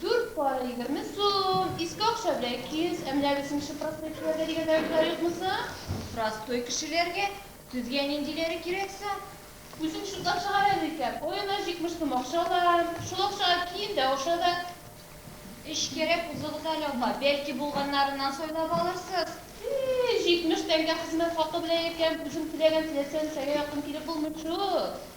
Дүрт пара егерме сум, иске акча белән ике йөз, ә менә безнеңче простой кешеләргә дигән рәвешләр юкмы соң? Простой кешеләргә? Сезгә ниндиләре кирәк соң? Үзең чутлап чыгар әле икән, аена җитмеш сум акча алам, шул акчага киен дә, аша да. Эш кирәк, узыгыз әле, апа, бәлки булганнарыннан сайлап алырсыз. И-и, җитмеш тәңкә хезмәт хакы белән икән, үзең теләгән теләсә нәрсәгә якын килеп булмый шул.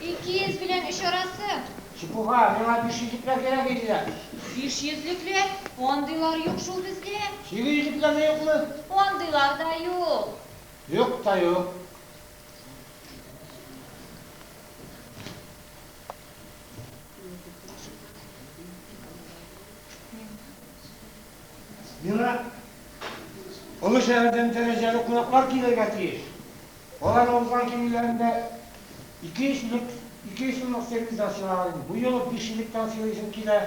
Ике йөз белән өч арасы. Чепуха, миңа биш йөзлекләр кирәк иде дә. Биш йөзлекләр? Андыйлар юк шул бездә. Сигез йөзлекләр дә юкмы? Андыйлар да юк. Юк та юк. Миңа Олы шәһәрдән дәрәҗәле кунаклар килергә тиеш. Аларны узган кимиләрендә ике йөз сумлык, ике йөз сумлык сервизлар сыйлаган. Бу юлы биш йөзлектән сыйлыйсым килә.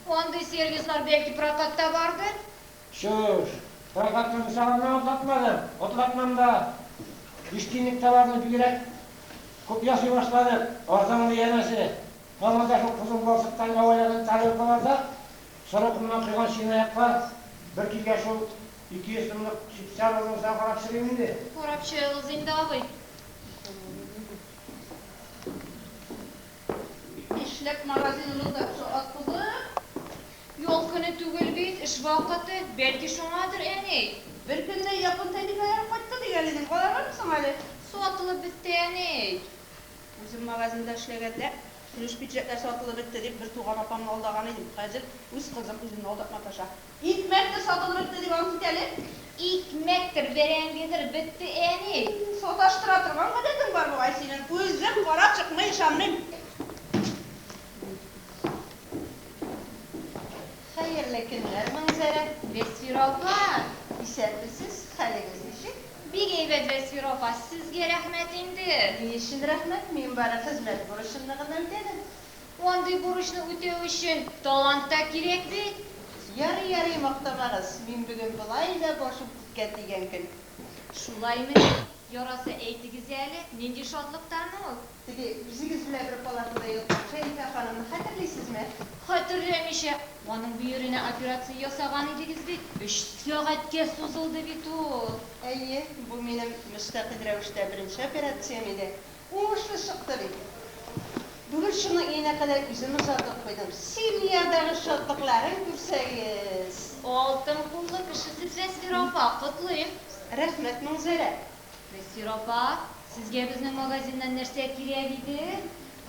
Андый сервизлар бәлки прокатта бардыр? Чүш! Прокатны мисал гына атлатмадым. Атлатмам да. Биш тиенлек товарны бигрәк күп ясый башладык. Арзанлы, янәсе. Мамырда шул кызыл балчыктан әвәләгән тарелкаларда соры комнан койган чынаяклар бер килгән шул Ике йөз сумлык чүп-чар алдың саң карап чыгыйм инде. Карап чыгыгыз инде абый. Нишләп магазин ротасы атыгып? Ял көне түгел бит, эш вакыты, бәлки шуңадыр, әни. Бер көнне япон тәлинкәләре кайтты дигән идең, калалармы соң әле? Сатылып бетте, әни. Үзем магазинда эшләгәндә, көлеш пиджәкләр сатылып бетте дип бер туган апамны алдаган идем, хәзер үз кызым үземне алдап маташа. Икмәктер сатылып бетте дип ант ит әле. Икмәктер, бәрәңгедер бетте, әни. Саташтыра торган гадәтең бар бугай синең. Үзем карап чыкмый ышанмыйм. Хәерле көннәр, Манзәрә. Вәсфирә апа, исәнмесез, хәлегез ничек? Бик әйбәт, Вәсфирә апа, сезгә рәхмәт инде. Ни өчен рәхмәт, мин бары хезмәт бурычымны гына үтәдем. Андый бурычны үтәү өчен талант та кирәк бит. Ярый, ярый, мактамагыз, мин бүген болай да башым күккә тигән көн. Шулаймыни? Яраса әйтегез әле, нинди шатлыктан ул? Теге, үзегез белән бер палатада яткан Шәрифә ханымны хәтерлисезме? Хәтерләмичә, аның бөеренә операция ясаган идегез бит, өч сәгатькә сузылды бит ул. Әйе, бу минем мөстәкыйль рәвештә беренче операциям иде. Уңышлы чыкты бит. Бүген шуны өенә кадәр үзем озатып куйдым. Семьядагы шатлыкларын күрсәгез. Алтын куллы кешесез Вәсир апа, котлыйм! Рәхмәт, Маңзәрә. Вәсир апа, сезгә безнең магазиннан нәрсә кирәк иде?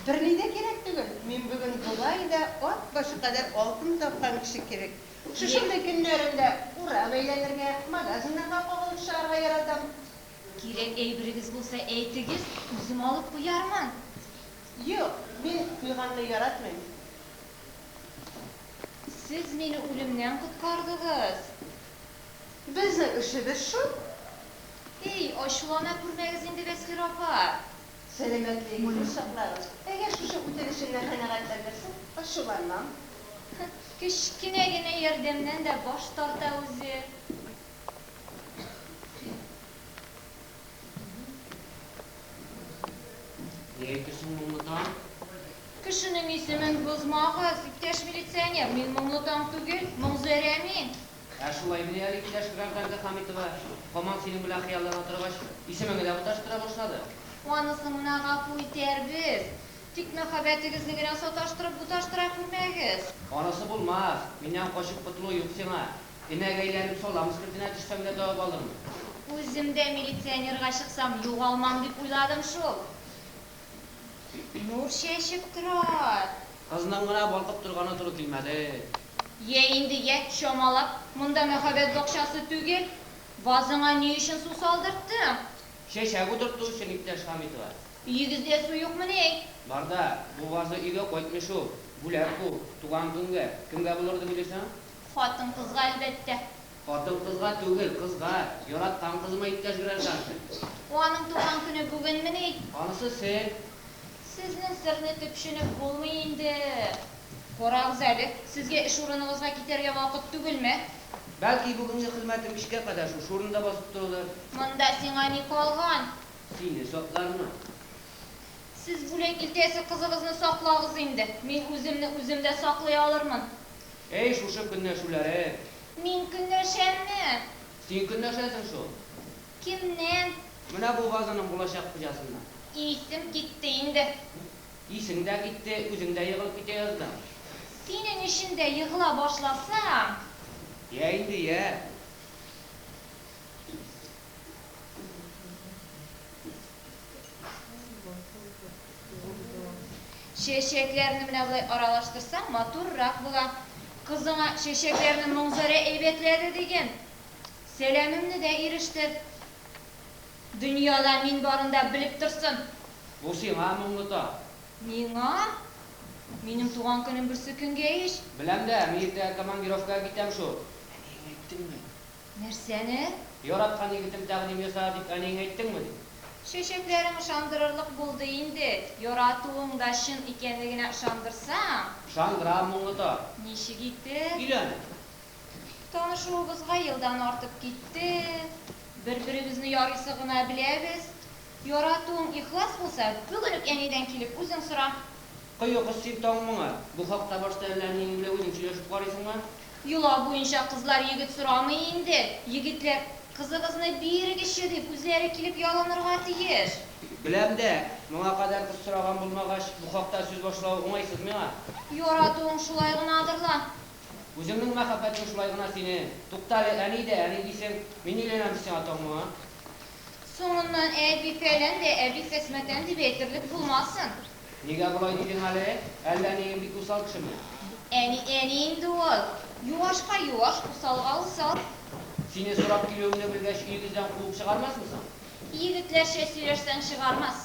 Берни дә кирәк түгел. Мин бүген болай да ат башы кадәр алтын тапкан кеше кебек. Шушындый көннәрендә урам әйләнергә, магазиннарга кагылып чыгарга яратам. Кирәк әйберегез булса, әйтегез, үзем алып куярмын. Юк, мин куйганны яратмыйм. Сез мине үлемнән коткардыгыз. Безнең эшебез шул. Һей, ачулана күрмәгез инде, Бәсхир апа. Сәламәтлегегезне саклагыз. Әгәр шушы үтенечемне канәгатьләндерсәң, ачуланмам. Кечкенә генә ярдәмнән дә баш тарта үзе. Ни әйтте соң моңлы таң? Кешенең исемен бозмагыз, иптәш милиционер, мин моңлы таң түгел, Моңзәрә мин. Ә шулай генә әле, иптәш гражданка Хәмитова, һаман синең белән хыяллана торгач, исемеңне дә маташтыра башлады. Анысын гына гафу итәрбез. Тик мәхәббәтегезне генә саташтырып-буташтыра күрмәгез. Анысы булмас, миннән качып котылу юк сиңа. Генә гәйләнеп салам өскертенә төшсәм дә табып алырмын. Үзем дә милиционерга чыксам югалмам дип уйладым шул. Нур чәчеп тора. Кызның гына балкып торганы туры килмәде. Йә инде, йә, чамалап. Монда мәхәббәт бакчасы түгел. Вазыңа ни өчен су салдырттың? Чәчәк утырту өчен, иптәш Хәмитова. Өегездә су юкмыни әй? Бар да, бу ваза өйгә кайтмый шул. Бүләк бу, туган көнгә. Кемгә булыр иде бу дисең? Хатын-кызга, әлбәттә. Хатын-кызга түгел, кызга. Яраткан кызыма иптәш гражданка. Аның туган көне бүгенмени? Анысы сер. Сезнең серне төпченеп булмый инде. Карагыз әле, сезгә эш урыныгызга китәргә вакыт түгелме? Бәлки, бүгенге хезмәтем кичкә кадәр шушы урында басып торулыр? Монда сиңа ни калган? Сине саклармы? Сез бүләк илтәсе кызыгызны саклагыз инде. Мин үземне үзем дә саклый алырмын. Әй, шушы көнләшүләрең! Мин көнләшәмме? Син көнләшәсең шул. Кемнән? Менә бу вазаның булачак хуҗасыннан. Исем китте инде. Исең дә китте, үзең дә егылып китә яздың. Синең өчен дә егыла башласам. Йә инде, йә. Чәчәкләрне менә болай аралаштырсаң, матуррак була. Кызыңа чәчәкләрне Манзарә әйбәтләде диген. Сәламемне дә ирештер. Дөньяда мин барын да белеп торсын. Бу сиңа, Моңлыта. Миңа? Минем туган көнем берсекөнгә ич. Беләм дә, мин иртәгә командировкага китәм шул. Әниеңә әйттеңме? Нәрсәне? Яраткан егетем тәкъдим ясады дип әниеңә әйттеңме? ди. Чәчәкләрең ышандырырлык булды инде. Яратуың да чын икәнен генә ышандырсаң. Ышандырам, моңлы тар. Ничек итеп? Өйлән! Танышуыбызга елдан артып китте. Бер-беребезне ярыйсы гына беләбез. Яратуың ихлас булса, бүген үк әнидән килеп үзең сора. Кое кош син таң моңа! Бу хакта башта әллә әниең белән үзең сөйләшеп карыйсыңмы? Йола буенча кызлар егет сорамый инде, егетләр, Кызыгызны бирегезче дип, үзләре килеп ялынырга тиеш. Беләм дә, моңа кадәр кыз сораган булмагач, бу хакта сүз башлау уңайсыз миңа. Яратуың шулай гынадыр ла. Үзеңнең мәхәббәтең шулай гына синең. Туктале, әни дә әни дисең, мин өйләнәм дисең ә тагын моңа. Соңыннан әби-фәлән дә әби-хәсмәтән дип әйтерлек булмасын. Нигә болай дидең әле? Әллә әниең бик усал кешеме? Әни, әни инде ул. Юашка юаш, усалга усал. Сине сорап килүеңне белгәч, өегездән куып чыгармасмы соң? Егетләрчә сөйләшсәң, чыгармас.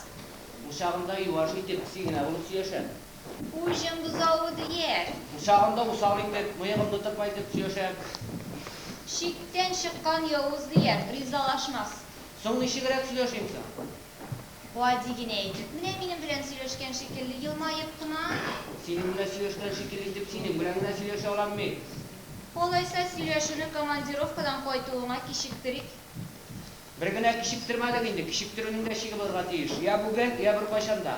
Учагында юаш итеп, песи генә булып сөяшәм. Уҗым бозавы дияр. Учагында усал итеп, мыегымны тырпайтып сөяшәм. Чиктән чыккан явыз дияр, ризалашмас. Соң ничегрәк сөйләшим соң? Гади генә итеп, менә минем белән сөйләшкән шикелле, елмаеп кына. Синең белән сөйләшкән шикелле итеп синең белән генә сөйләшә алам мин. Алайса, сөйләшүне командировкадан кайтуыңа кичектерик. Бер генә кичектермәдең инде, кичектерүнең дә чиге булырга тиеш. Йә бүген, йә беркайчан да.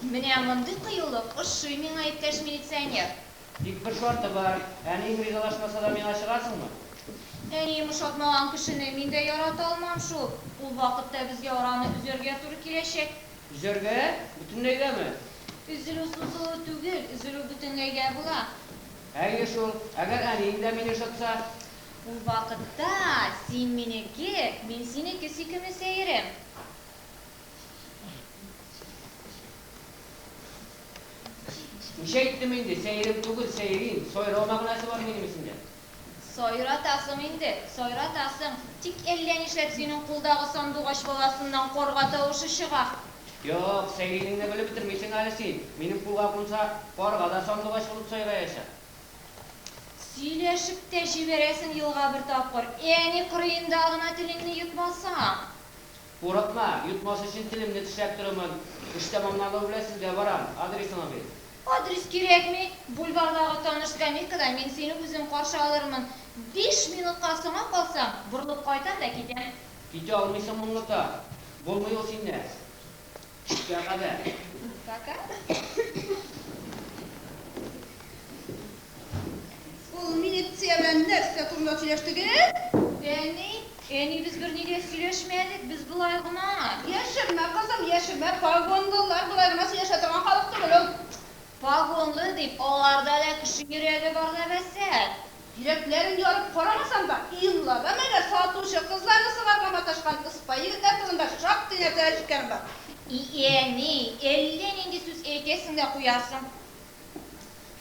Менә мондый кыюлык ошый миңа, иптәш милиционер. Тик бер шарты бар, әниең ризалашмаса да миңа чыгасыңмы? Әнием ошатмаган кешене мин дә ярата алмам шул. Ул вакытта безгә араны өзәргә туры киләчәк. Өзәргә? Бөтенләйгәме? Өзелү сузылу түгел, өзелү бөтенләйгә була. Әйе шул, әгәр әниең дә мине ошатса? Ул вакытта син минеке, мин синеке сөйкемле сәерем. Ничә әйттем инде, сәерем түгел, сәерим. Сайрау мәгънәсе бар минем исемдә. Сайратасың инде, сайратасың. Тик әллә нишләп синең кулдагы сандугач баласыннан карга тавышы чыга. Юк, сәеринеңне белеп бетермисең әле син. Минем кулга кунса, карга да сандугач булып сайраячак. Сөйләшеп тә җибәрәсең елга бер тапкыр. Әни кырыенда гына телеңне йотмасаң. Курыкма, йотмас өчен телемне тешләп торырмын. Эш тәмамлану белән сезгә барам. Адресыңа бир. Адрес кирәкми. Бульвардагы таныш скамейкада мин сине үзем каршы алырмын. Биш минутка соңа калсаң, борылып кайтам да китәм. Китә алмыйсың моңлыта. Булмый ул синдә. Күпкә кадәр? Пока. Ул милиция белән нәрсә турында сөйләштегез? Әни, әни, без берни дә сөйләшмәдек, без болай гына. Яшермә, кызым, яшермә, погонлылар болай гына сөйләшә торган халык түгел ул. Погонлы дип, аларда да кеше йөрәге бар ләбаса. Йөрәкләрен ярып карамасам да, Илнада менә сатучы кызларны сыларга маташкан ыспай егетләр турында шактый нәрсә ишеткәнем бар. И әни, әллә нинди сүз әйтәсең дә куясың.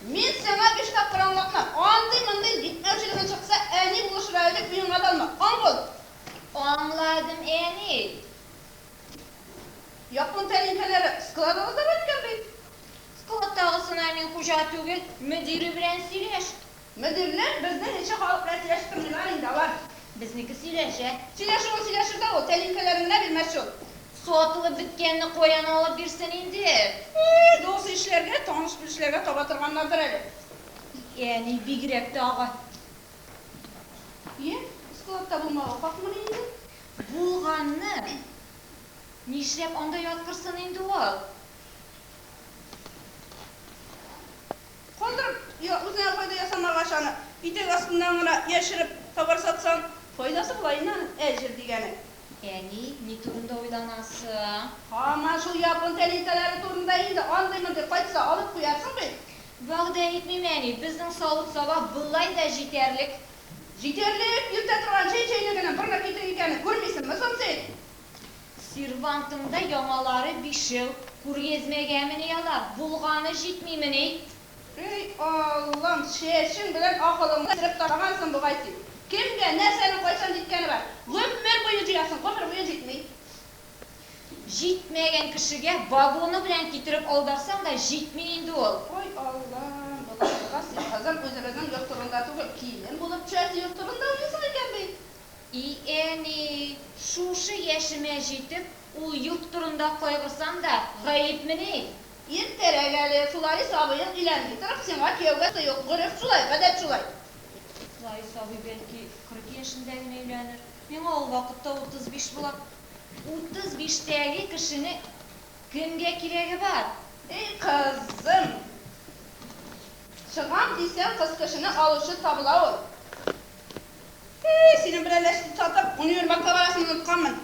Мин сиңа биш тапкыр аңлатма, андый-мондый җитмәүчелегең чыкса, әни булышырга элек уеңа да алма. Аңладым. Аңладым, әни. Япон тәлинкәләре складыгыз да бар икән бит? Складтагысына мин хуҗа түгел, мөдире белән сөйләш. Мөдирләр безнеңечә халык белән сөйләшеп тормыйлар инде алар. Безнеке сөйләшә. Сөйләшүен сөйләшер дә ул, тәлинкәләрен генә бирмәс шул. Сатылып беткәнне каян алып бирсен инде? Ии, дус ишләргә, таныш-белешләргә таба торганнардыр әле. И әни, бигрәк тә агай. Е, складта булмауга хакмыни инде? Булганны! Нишләп анда яткырсын инде ул? Калдырып, я үзеңә файда ясамагач аны, итәк астыннан гына яшереп, товар сатсаң, файдасы була инде аның әҗер дигәне. Әни, ни турында уйланасың? Һаман шул япон тәлинкәләре турында инде, андый-мондый кайтса, алып куярсың бит. Вәгъдә итмим, әни, безнең савыт-саба болай да җитәрлек. Җитәрлек, йөртә торган чәй чәйнегенең бер накидер икәнен күрмисеңме соң син? Сервантыңда яңалары бишәү, күргәзмәгәмени алар, булганы җитмимени? Һөй, Аллам, чәчең белән акылыңны җыеп ташлагансың бугай син. Кемгә, нәрсәнең кайчан җиткәне бар? Гомер буе җыярсың, гомер буе җитми. Җитмәгән кешегә вагоны белән китереп аударсаң да җитми инде ул. Һөй, Аллам, боларга син кызым үзебезнең йорт турында түгел, килен булып чәч йорт турында уйлыйсың икән бит. И әни, шушы яшемә җитеп, ул йорт турында кайгырсам да гаепмени? Иртәрәк әле, Фларис абыең өйләнми торып, сиңа кияүгә сый ук. Гореф шулай, гадәт шулай. Фларис абый, бәлки, кырык яшендә генә өйләнер. Миңа ул вакытта утыз биш була. Утыз биштәге кешенең кемгә кирәге бар? Эй, кызым! Чыгам дисәң, кыз кешене алучы табыла ул. Әй, синең белән ләч туктатып, универмагка барасын онытканмын.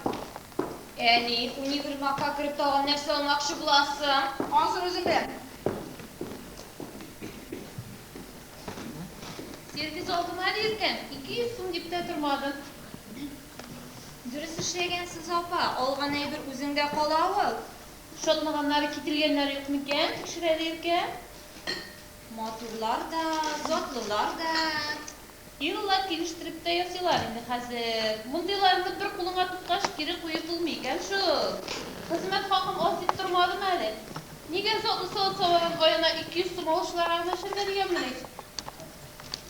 Әни, универмагка кереп тагын нәрсә алмакчы буласың? Ансын үзең беләм. Сервиз алдым әле иркен, ике йөз сум дип тә тормадым. Дөрес эшләгәнсез, апа, алган әйбер үзеңдә кала ул. Шатлаганнары, кителгәннәре юк микән, тикшер әле иркен. Матурлар да, затлылар да. Илла килештереп тә ясыйлар инде хәзер. Мондыйларны бер кулыңа тоткач, кире куеп булмый икән шул. Хезмәт хакым аз дип тормадым әле. Нигә затлы салат савардан аена ике йөз сум алучыларга гына эшләргә дигәнмени?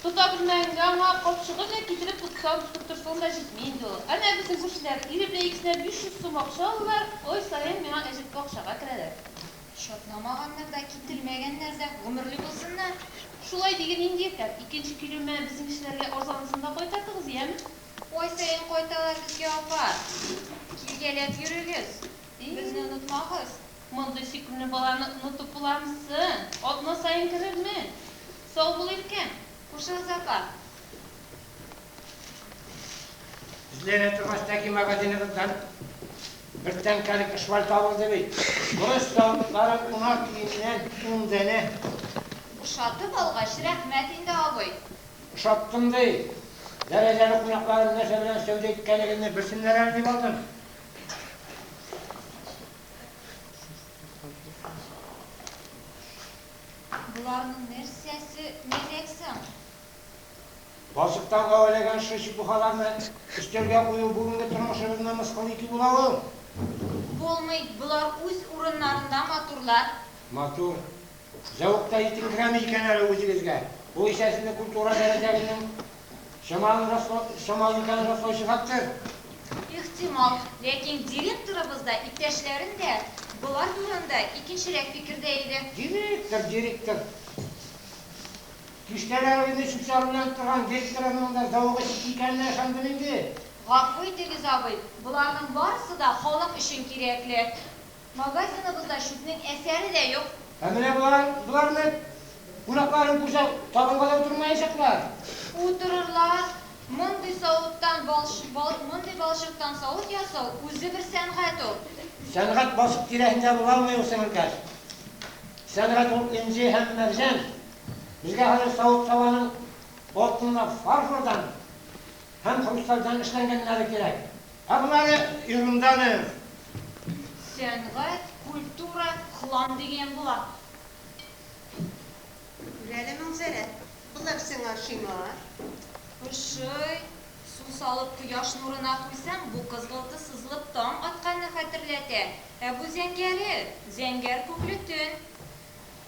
Тота белмәгәнгә аңа капчыгын гына китереп тоткан, тотып торсаң да җитми инде ул. Әнә безнең күршеләр, ире белән икесенә биш йөз сум акча алдылар, ай саен миңа әҗәтле акчага керәләр. Чатнамаганнар да, кителмәгәннәр дә, гомерле булсыннар! Шулай диген инде, иртән икенче килү мә безнең кешеләргә арзанысын да кайтартыгыз, яме? Ай саен кайталар безгә, апа. Килгәләп йөрегез. Безне онытмагыз. Мондый сөйкемле баланы онытып буламы соң? Атна саен керерме? Сау бул, иркәм. Кушыгыз, апа. Эзләнә торгач, тәки магазиныгыздан Бер тәңкәлек шваль табылды бит. Бурыч савытлары кунак өеннән ун данә. Ошатып алгач, рәхмәт инде, абый. Ошаттым ди. Дәрәҗәле кунакларым нәрсә белән сәүдә иткәнлегемне белсеннәр әле дип алдым. Боларның нәрсәсе мәзәк соң? Балчыктан гәвәләгән шушы чепухаларны өстәлгә кую бүгенге тормышыбызны мыскыл итү була ул. Булмый, болар үз урыннарында матурлар. Матур. Зәвык та җитенкерәми икән әле үзегезгә. Бу исә сезне культура дәрәҗәгезнең чамалын раслау, чамалы икәнен раслаучы фактор. Ихтимал. Ләкин директорыбыз да, иптәшләрем дә болар турында икенчерәк фикердә иде. Директор, директор. Киштәләр инде чүп-чар уйнап торган ГЭС районында зәвык эчеп икәненә ышандым инде. Гафу итегез, абый, боларның барысы да халык өчен кирәкле. Магазиныбызда чүпнең әсәре дә юк. Ә менә болар, болар нык. Кунакларын күрсәң, табынга да утырмаячаклар. Утырырлар. Мондый савыттан балчык, бал, мондый балчыктан савыт ясау, үзе бер сәнгать ул. Сәнгать балчык тирәсендә була алмый ул, сеңелкәш. Сәнгать ул, энҗе һәм мәрҗән. Безгә хәзер савыт-сабаның алтынлы фарфордан һәм хрустальдан эшләнгәннәре кирәк. Ә болары ерунданыыр. Сәнгать, культура, хлам дигән була. Күр әле, Мәнзәрә, болар сиңа ошыймы, а? Ошый. Су салып кояш нурына куйсаң, бу кызгылты сызылып таң атканны хәтерләтә. Ә бу зәңгәре, зәңгәр күкле төн.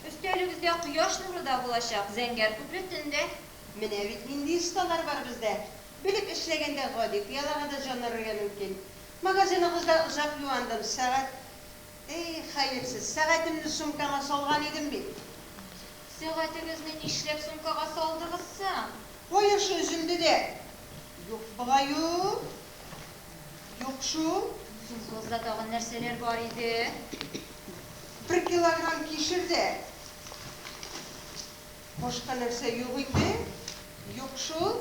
Өстәлегездә кояш нуры да булачак, зәңгәр күпер төндә. Менә бит нинди осталар бар бездә! Белеп эшләгәндә гади пыялага да җан өрергә мөмкин. Магазиныгызда озак юандым, сәгать. Эй, хәерсез, сәгатемне сумкама салган идем бит! Сәгатегезне нишләп сумкага салдыгыз соң? Кая шул өземде дә? Юк бугай ул. Юк шул. Совхозда тагын нәрсәләр бар иде? Бер килограмм кишер дә. Башка нәрсә юк инде? Юк шул.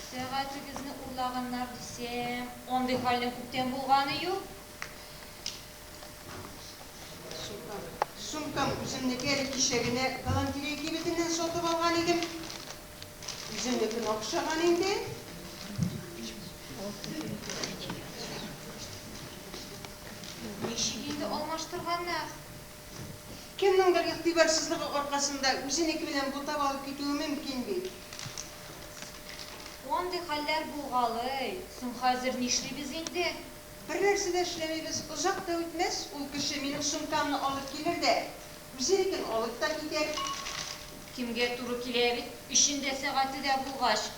Сәгатегезне урлаганнар дисәм. Андый хәлнең күптән булганы юк. Сумкам. Сумкам үземнеке әле кичә генә галантерея кибетеннән сатып алган идем. Үзенекен акшаган инде. Ничек инде алмаштырганнар? Кемнеңдер игътибарсызлыгы аркасында үзенеке белән бутап алып китүе мөмкин бит. Андый хәлләр булгалый. Соң хәзер нишлибез инде? Бернәрсә дә эшләмибез, озак та үтмәс, ул кеше минем сумкамны алып килер дә, Үзенекен алып та китә. Кемгә туры килә бит, өчен дә, сәгате дә булгач.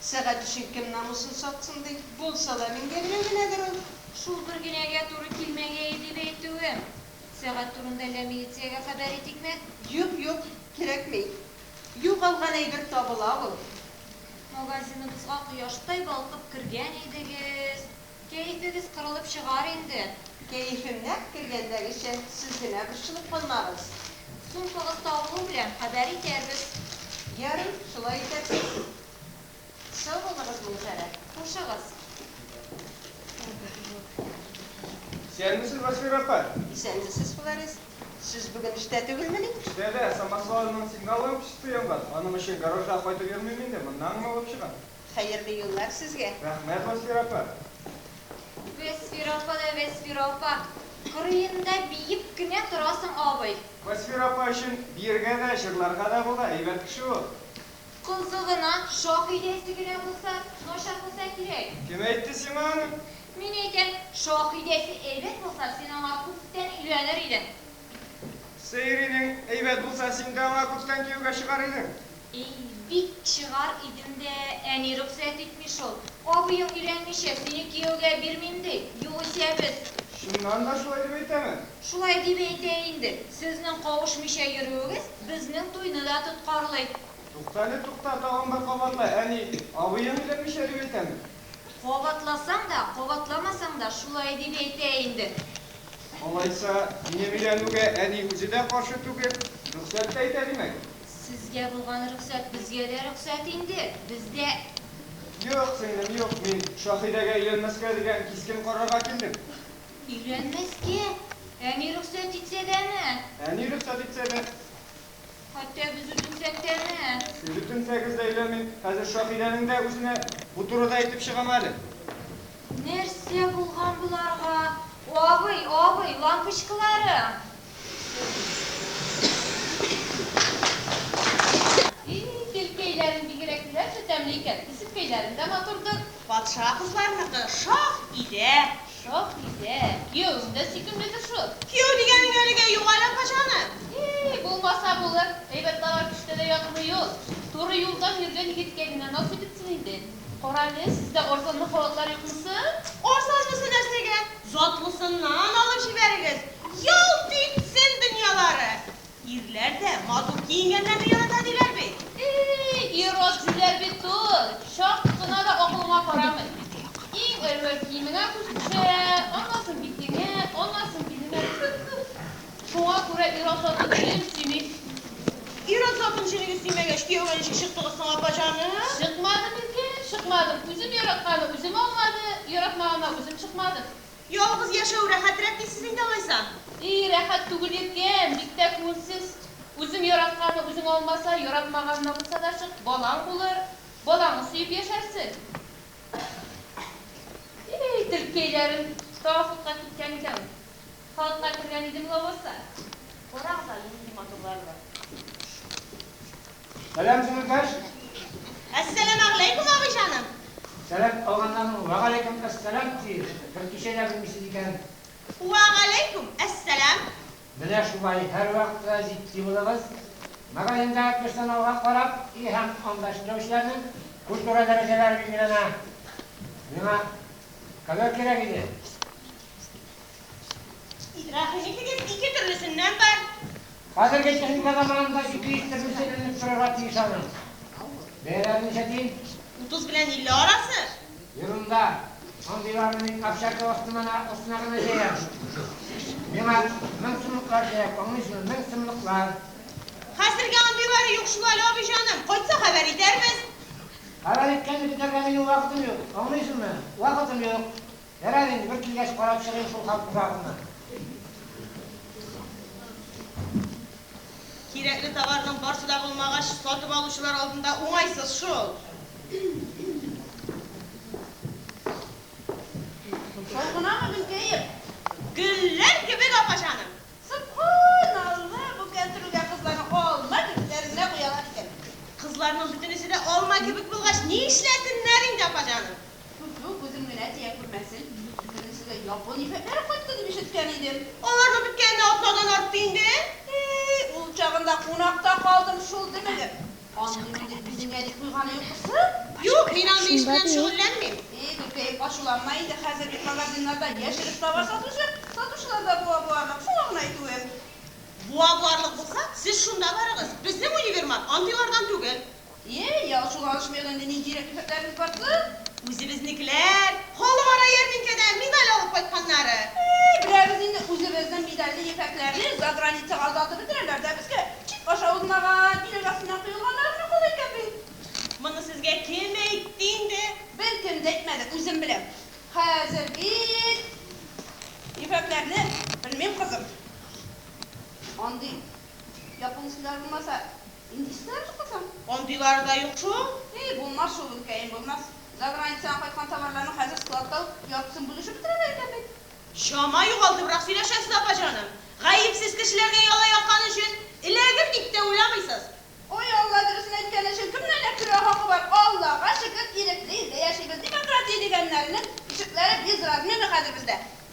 Сәгать өчен кем намусын сатсын ди. Булса да меңгә генә генәдер ул. Шул бер генәгә туры килмәгәе дип әйтүем. Сәгать турында әллә милициягә хәбәр итикме? Юк, юк, кирәкми. Югалган әйбер табыла ул. Магазиныбызга кояштай балкып кергән идегез. Кәефегез кырылып чыгар инде. Кәефем нәкъ кергәндәгечә, сез генә борчылып калмагыз. Сумкагыз табылу белән хәбәр итәрбез. Ярый, шулай итәрбез. Сау булыгыз, Миңфәрә. Хушыгыз. Исәнмесез, Васфира апа! Исәнмесез, Фларис. Сез бүген эштә түгелмени? Эштә дә, самосвалның сигнал лампочкасы янган. Аның өчен гаражга кайтып йөрмим инде, моннан гына алып чыгам. Хәерле юллар сезгә! Рәхмәт, Вәсфирә апа! Вәсфирә апа да Вәсфирә апа! Кырыенда биеп кенә торасың абый! Вәсфирә апа өчен биергә дә, җырларга да була, әйбәт кеше ул! Кызы гына, Шаһидәсе генә булса, начар булса кирәк! Кем әйтте сиңа аны? Мин әйтәм, Шаһидәсе әйбәт булса, син аңа күптән өйләнер идең! Сәйринең әйбәт булса, син дә аңа күптән кияүгә чыгар идең. Әй, бик чыгар идем дә, әни рөхсәт итми шул. Абыең өйләнмичә, сине кияүгә бирмим, ди. Югыйсә без. Чыннан да шулай дип әйтәме? Шулай дип әйтә инде. Сезнең кавышмыйча йөрүегез безнең туйны да тоткарлый. Туктале, тукта, тагын бер кабатла, әни, абыең өйләнмичә дип әйтәме? Кабатласаң да, кабатламасаң да шулай дип әйтә инде. Алайса, минем өйләнүгә әни үзе дә каршы түгел, рөхсәт тә итә, димәк? Сезгә булган рөхсәт безгә дә рөхсәт инде. Без дә. Юк, сеңлем, юк. Мин Шаһидәгә өйләнмәскә дигән кискен карарга килдем. Өйләнмәскә? Әни рөхсәт итсә дәме? Әни рөхсәт итсә дә. Хәтта без үтенсәк тә әнә. Сез үтенсәгез дә өйләнмим. Хәзер Шаһидәнең дә үзенә бу турыда әйтеп чыгам әле. Нәрсә булган боларга? Абый, абый, лампочкаларым! И, телкәйләрең бигрәк нәрсә тәмле икән, кесеркәйләрең дә матурдыр. Патша кызларыныкы шаһ идә. Шакидә, кияүең дә сөйкемледер шул? Кияү дигәнең әлегә юк әле, апаҗаным. И-и, булмаса булыр, әйбәт товар кешедә дә ятмый ул. Туры юлдан йөргән егеткә генә наз итепсең инде. Карале, сездә арзанлы халатлар юкмы соң? Арзанлысы нәрсәгә, затлысыннан алып җибәрегез, ялт итсен дөньялары! Ирләр дә матур киенгәннәрне ярата диләр бит. Ии, ир-ат диләр бит ул, чак кына да акылыңа карамый. Иң әүвәл киемеңә күз төшә, аннасың битеңә, аннасың биленә төшә. Шуңа күрә ир-ат затын җенегез сөйми. Ир-ат затын җенегез сөймәгәч, кияүгә ничек чыктыгыз соң, апа җаным? Чыкмадым, иркәм, чыкмадым. Үзем яратканны үзем алмады, яратмаганнан үзем чыкмадым. Ялгыз яшәү рәхәтрәк дисез инде алайса? И, рәхәт түгел икән, бик тә күңелсез. Үзең яратканны үзең алмаса, яратмаган да булса да чык, балаң булыр. Балаңны сөеп яшәрсең. И-и, телкәйләрем тагы судка киткән икән ул. Халыкка кергән идем лабаса. Карагыз әле, нинди матурлары бар. Сәлам сеңелкәш! Әссәләмәгъләйкүм, абый җаным! Сәлам алганнарның вәгаләйкүм әссәлам тиеш, бер кичә дә белмисез икән. Вәгаләйкүм әссәлам! Менә шулай һәрвакытта җитди булыгыз. Магазинда персоналга карап, өй һәм анда эшләүчеләрнең культура дәрәҗәләре билгеләнә. Миңа ковер кирәк иде. Рәхим итегез, ике төрлесеннән бар. Хәзерге техника заманында 200 төрле сәләнеп торырга тиеш аның. Бәяләре ничә дим? Утыз белән илле арасы. Ерунда. Андыйларны мин общага астына астына гына җәям. Миңа мең сумлыклар кирәк, аңлыйсызмы, мең сумлыклар. Хәзергә андыйлары юк шул әле, абый җаным. Кайтса хәбәр итәрбез. Хәбәр иткәнне көтәргә минем вакытым юк, аңлыйсызмы, вакытым юк. Ярар инде, бер килгәч карап чыгыйк шул хан кушагына. Кирәкле товарның барсы да булмагач, сатып алучылар алдында уңайсыз шул. Шул гынамы, Гөлкәем? Гөлләр кебек, апа җаным! Собханалла, бу кәнтүрелгән кызларны алма кебекләр генә куялар икән. Кызларның бөтенесе дә алма кебек булгач, ни эшләсеннәр инде, апа җаным? Түзү күзем генә тия күрмәсен, беренчедә япон ефәкләре кайтты дип ишеткән идем. Аларның беткәненә атнадан артты инде. Ии, ул чагында кунакта калдым шул, дөмегеп. Андый мендек биземгә дип куйганы юкмы соң? Юк, мин андый эш белән шөгыльләнмим. Ии, Гөлкәем, ачуланма инде, хәзер бит магазиннарда яшереп товар сатучы, сатучылар да буа буарлык, шуңа гына әйтүем. Буа буарлык булса, сез шунда барыгыз, безнең универмаг андыйлардан түгел. Йә-йә, ачуланышмыйк инде, ни кирәк ефәкләребез барсы? Үзебезнекеләр, халыкара ярминкәдән медаль алып кайтканнары. Әй, беләбез инде, үзебезнең медальле ефәкләрне заграницага озатып бетерәләр дә безгә чик аша узмаган, билет астыннан коелганнары гына кала икән бит. Моны сезгә кем әйтте инде? Беркем дә әйтмәде, үзем беләм. Хәзер бит ефәкләрне белмим, кызым. Андый япон исемнәре булмаса. Нинди читалар юк соң? Андыйлары да юк шул. Эй, булмас шул, үпкәем, булмас. Заграницадан кайткан товарларның хәзер складта ук яртысын бүлешеп бетерәләр икән бит. Чама югалтыбрак сөйләшәсез, апа җаным. Гаепсез кешеләргә яла яккан өчен эләгер дип тә уйламыйсыз. Ой, Алла, дөресен әйткән өчен кемнең генә көлә хакы бар? Аллага шөкер, ирекле илдә яшибез. Демократия дигәннәрнең ишекләре без размерны хәзер бездә.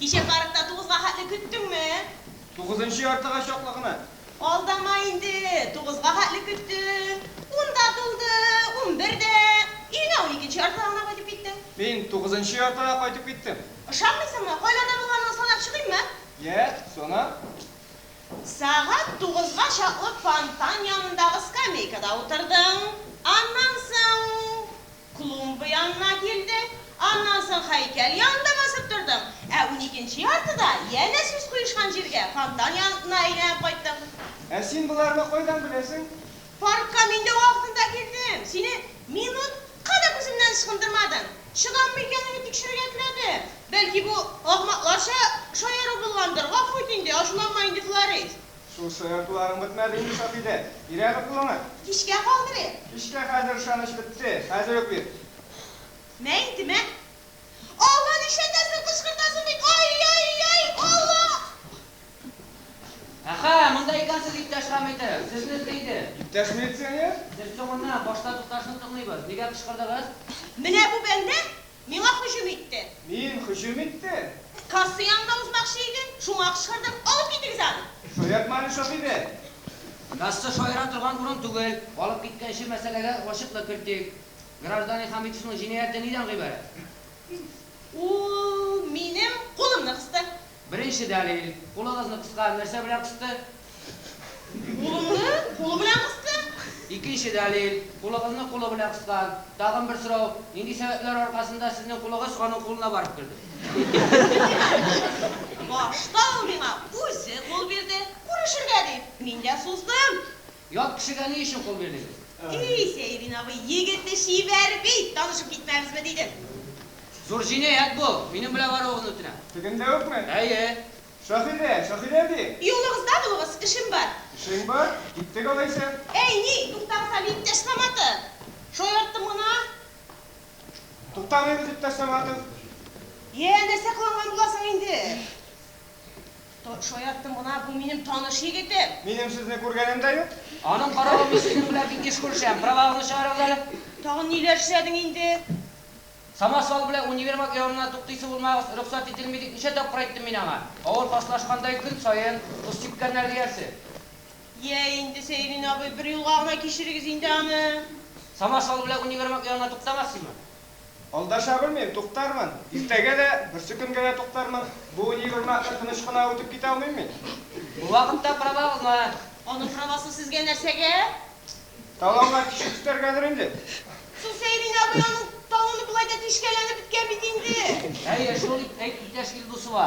Кичә паркта тугызга хәтле көттеңме? Тугызынчы яртыга чаклы гына. Алдама инде, тугызга хәтле көттең. Ун да тулды, унбер дә. Өеңә уникенче яртыга гына кайтып киттең. Мин тугызынчы яртыга кайтып киттем. Ышанмыйсыңмы? Кайларда булганың санап чыгыйммы? Йә, сана. Сәгать тугызга чаклы фонтан янындагы скамейкада утырдың. Аннан соң. Клумба янына килде. Аннан соң һәйкәл янында басып тордым. Ә уникенче яртыда, янә сүз куешкан җиргә, фонтан янына әйләнеп кайттым. Ә син боларны кайдан беләсең? Паркка мин дә вакытында килдем. Сине минутка да күземнән ычкындырмадың. Чыдаммы икәнеңне тикшерергә теләдем. Бәлки, бу ахмакларча шаяру булгандыр. Гафу ит инде, ачуланма инде, Флорис. Шушы ыртуларың бетмәде инде, Сафидә. Бирәме кулыңа? Кичкә калдырыйк. Кичкә хәзер ышаныч бетте. Хәзер үк бир. Мә инде, мә. Алла, нишләтәсең, кычкыртасың бит, ай-яй-яй, Алла! Әхә, монда икәнсез, иптәш Хәмитов. Сезне эзли иде. Иптәш милиционер? Сез соңыннан, башта тукташны тыңлыйбыз. Нигә кычкырдыгыз? Менә бу бәндә Миңа һөҗүм итте. Мин һөҗүм иттем? Касса янында узмакчы иде, шуңа кычкырдым, алып китегез аны! Шаяртма әле, Шаһидә! Касса шаяра торган урын түгел. Алып киткәнче мәсьәләгә ачыклык кертик. Гражданин Хәмитовның җинаятье нидән гыйбарәт? Ул минем кулымны кысты. Беренче дәлил, кулыгызны кыска нәрсә белән кысты? Кулымны кулы белән кысты. Икенче дәлил, кулыгызны кулы белән кыскан. Тагын бер сорау, нинди сәбәпләр аркасында сезнең кулыгыз аның кулына барып керде? Башта ул миңа үзе кул бирде, күрешергә дип, мин дә суздым. Ят кешегә ни өчен кул бирмибез? И-и, Сәйрин абый, егете чибәр бит, танышып китмәбезме дидем. Зур җинаять бу, минем белән баруыгызны үтенәм. Тегендә үкме? Әйе. Шаһидә, Шаһидә ди! Юлыгызда булыгыз, эшем бар. Эшең бар? Киттек алайса. Әй, ни, туктагыз әле, иптәш Саматов! Шаярттым гына. Туктамыйбыз, иптәш Саматов. Йә, нәрсә кыланган буласың инде? Шаярттым гына, бу минем таныш егетем. Минем сезне күргәнем дә юк. Аның каравы, мин сезнең белән бик еш күрешәм. Правагызны чыгарыгыз әле. Тагын ниләр эшләдең инде? Самосвал белән универмаг янына туктыйсы булмагыз, рөхсәт ителми дип ничә тапкыр әйттем мин аңа. Авыр фашлашкандай көн саен тоз сипкәннәр диярсең. Йә инде, Сәйрин абый, бер юлга гына кичерегез инде аны. Самосвал белән универмаг янына туктамас сиңа. Алдаша белмим, туктармын. Иртәгә дә, берсе көнгә дә туктармын. Бу универмагны тыныч кына үтеп китә алмыйм мин. Бу вакытта правагызны. Аның правасы сезгә нәрсәгә? Талаулар тишеп китәргәдер инде. Соң Сәйрин абый аның талоны болай да тишкәләнеп беткән бит инде. Әйе шул, әйт, иптәш Илдусова.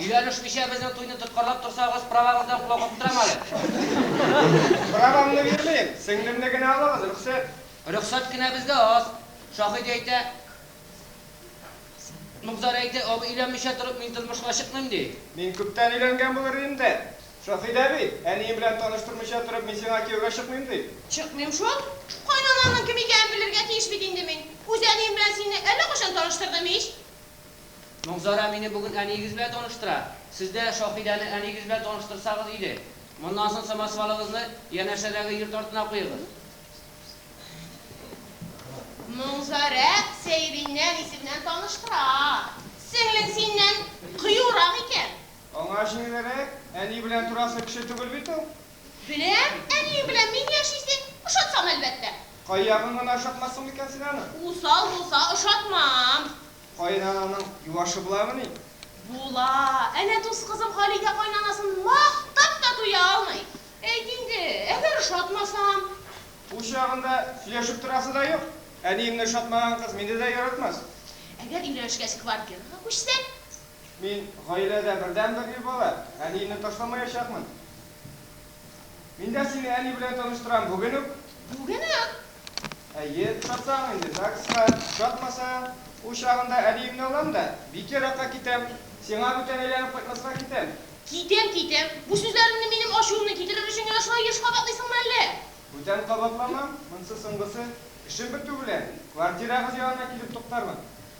Өйләнешмичә безнең туйны тоткарлап торсагыз, правагыздан колак оттырам әле. Правамны бирмим, сеңлемне генә алыгыз, рөхсәт. Рөхсәт кенә безгә аз. Шаһит әйтә, Мукзар әйтә, абый өйләнмичә торып мин тормышка чыкмыйм, ди. Мин күптән өйләнгән булыр идем дә, Шаһит әби, әнием белән таныштырмыйча торып мин сиңа кияүгә чыкмыйм, ди. Чыкмыйм шул. Кайнанаңның кем икәнен белергә тиеш бит инде мин. Үз әнием белән сине әллә кайчан таныштырдым ич. Мөнзарә мине бүген әниегез белән таныштыра. Сез дә Шаһидәне әниегез белән таныштырсагыз иде. Моннан соң самосвалыгызны янәшәдәге йорт артына куегыз. Мөнзарә Сәйрине әнисе белән таныштыра. Сеңлең синнән кыюрак икән. Аңа җиңелрәк, әни белән торасы кеше түгел бит ул. Беләм, әниең белән мин яшисең, ошатсам, әлбәттә. Кайягың гына ошатмасын микән син аның? Усал булса, ошатмам. Каенананың юашы буламыни? Була. Әнә дус кызым Халидә каенанасын мактап та туя алмый. Әйт инде, әгәр ошатмасам? Ул чагында сөйләшеп торасы да юк. Әниемне ошатмаган кыз мине дә яратмас. Әгәр өйләнешкәч квартирага күчсәк? Мин гаиләдә бердәнбер ир бала, әниемне ташламаячакмын. Мин дә сине әни белән таныштырам, бүген үк. Бүген үк? Әйе, ошатсаң инде ЗАГСка, ошатмаса, ул чагында әбиемне алам да, бик еракка китәм. Сиңа бүтән әйләнеп кайтмаска китәм. Китәм, китәм. Бу сүзләреңне минем ачуымны китерер өчен генә шулай еш кабатлыйсыңмы әллә? Бүтән кабатламам, монсы соңгысы. Эшем бетү белән, квартирагыз янына килеп туктармын.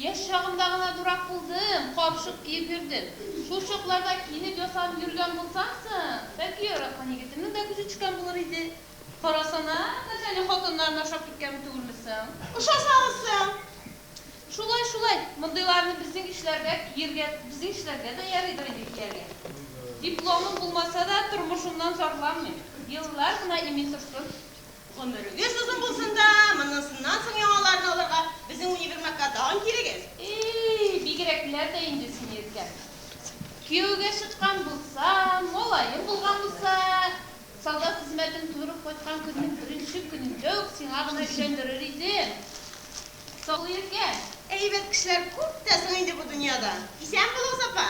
Яшь чагымда гына дурак булдым, капчык киеп йөрдем. Шул чакларда киенеп ясанып йөргән булсам соң, бәлки яраткан егетемнең дә күзе төшкән булыр иде. Карасана, без әле хатыннарны ашап киткән түгелме соң? Ошасагыз соң! Шулай, шулай, мондыйларны безнең ишләргә киергә, безнең ишләргә дә ярыйдыр инде кияргә. Дипломым булмаса да, тормышымнан зарланмыйм. Еллар гына имин торсын. Гомерегез озын булсын да, моннансыннан соң яңаларын алырга безнең универмагка тагын килегез. Ии, бигерәкләр дә инде син иркәм. Кияүгә чыккан булсам, малаем булган булса, солдат хезмәтен тутырып кайткан көннең беренче көнендә үк сиңа гына өйләндерер идем. Саклый иркәм. Әйбәт кешеләр күп тә соң инде бу дөньяда. Исән бул, Азапа!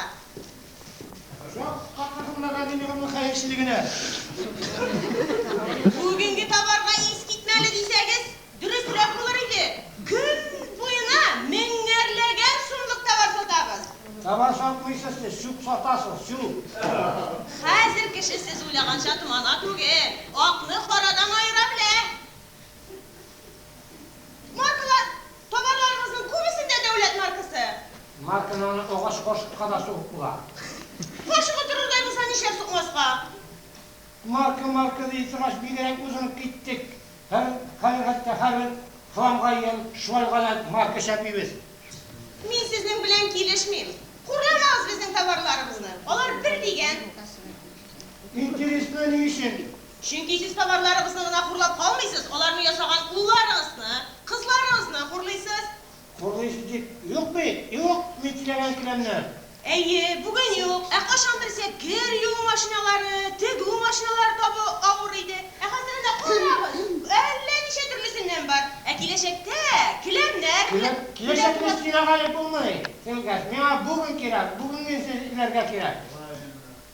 Бүгенге товарга искитмәле дисәгез, дөресрәк булыр иде. Көн буена меңәрләгән сумлык товар сатабыз. Товар сатмыйсыз сез, чүп сатасыз, чүп! Хәзер кеше сез уйлаганча томана түгел, акны карадан аера белә. Маркалар, товарларыгызның күбесендә дәүләт маркасы. Маркаларны агач кашыкка да сугып була. Кашык утырырдай булса, нишләп сукмаска? Марка, марка ди торгач, бигрәк узынып киттек. Һәр һәр хәтта һәрбер хламга ел шулай гадәт марка чәпибез. Мин сезнең белән килешмим. Хурламагыз безнең товарларыбызны. Алар бер дигән. Интересно, ни өчен? Чөнки сез товарларыгызны гына хурлап калмыйсыз, аларны ясаган улларыгызны, кызларыгызны хурлыйсыз. Хурлыйсыз дип юк бит, юк, мин теләгән келәмнәр. Әйе, бүген юк, ә кайчан берсә кер юу машиналары, тегү машиналары табу авыр иде. Ә хәзер әнә карагыз, әллә ничә төрлесеннән бар. Ә киләчәктә келәмнәр белән дә. Киләчәкне сөйләгәли булмый, Тилгәз. Миңа бүген кирәк, бүгенгесен эзләргә кирәк.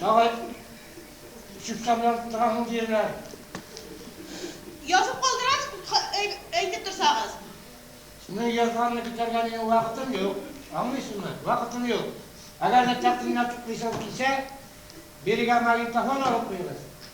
Малай, чүпкә белән тотынасың диерләр. Язып калдырасыз, әйтеп торсагыз. Синең язганны көтәргә минем вакытым юк. Аңлыйсыңмы? Вакытым юк. Әгәр дә тәкъдимнәр туплыйсы килсә, бирегә магнитофон алып куегыз.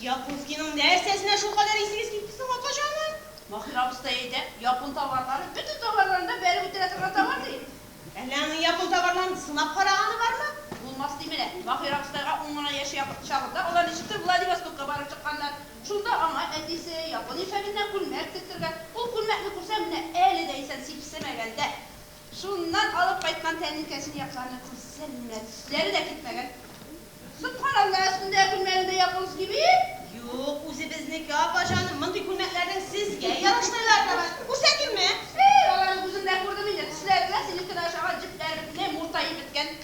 Якунскийның нәрсәсенә шулкадәр исегез китте соң, апаҗаным? Маһир абыстай әйтә, япон товарлары бөтен товарларын да бәреп үтерә торган товар, ди. Әллә аның япон товарларын сынап караганы бармы? Булмас диме лә. Маһир абыстайга ун гына яшь якын чагында алар ничектер Владивостокка барып чыкканнар. Шунда аңа әтисе япон ефәгеннән күлмәк тектергән. Ул күлмәкне күрсәм, менә әле дә исән, сипсемәгән дә. Шуннан алып кайткан тәлинкәсен якларына күрсә генә төсләре дә китмәгән. Суккан анда өстендә күлмәгең дә японский бит? Юк, үзебезнеке, апа җаным. Мондый күлмәкләрнең сезгә ярашмыйлары да бар. Күрсәтимме? Әй, аларны үзем дә күрдем инде, төсләре дә синекедән ошаган җепләрне муртаеп беткән.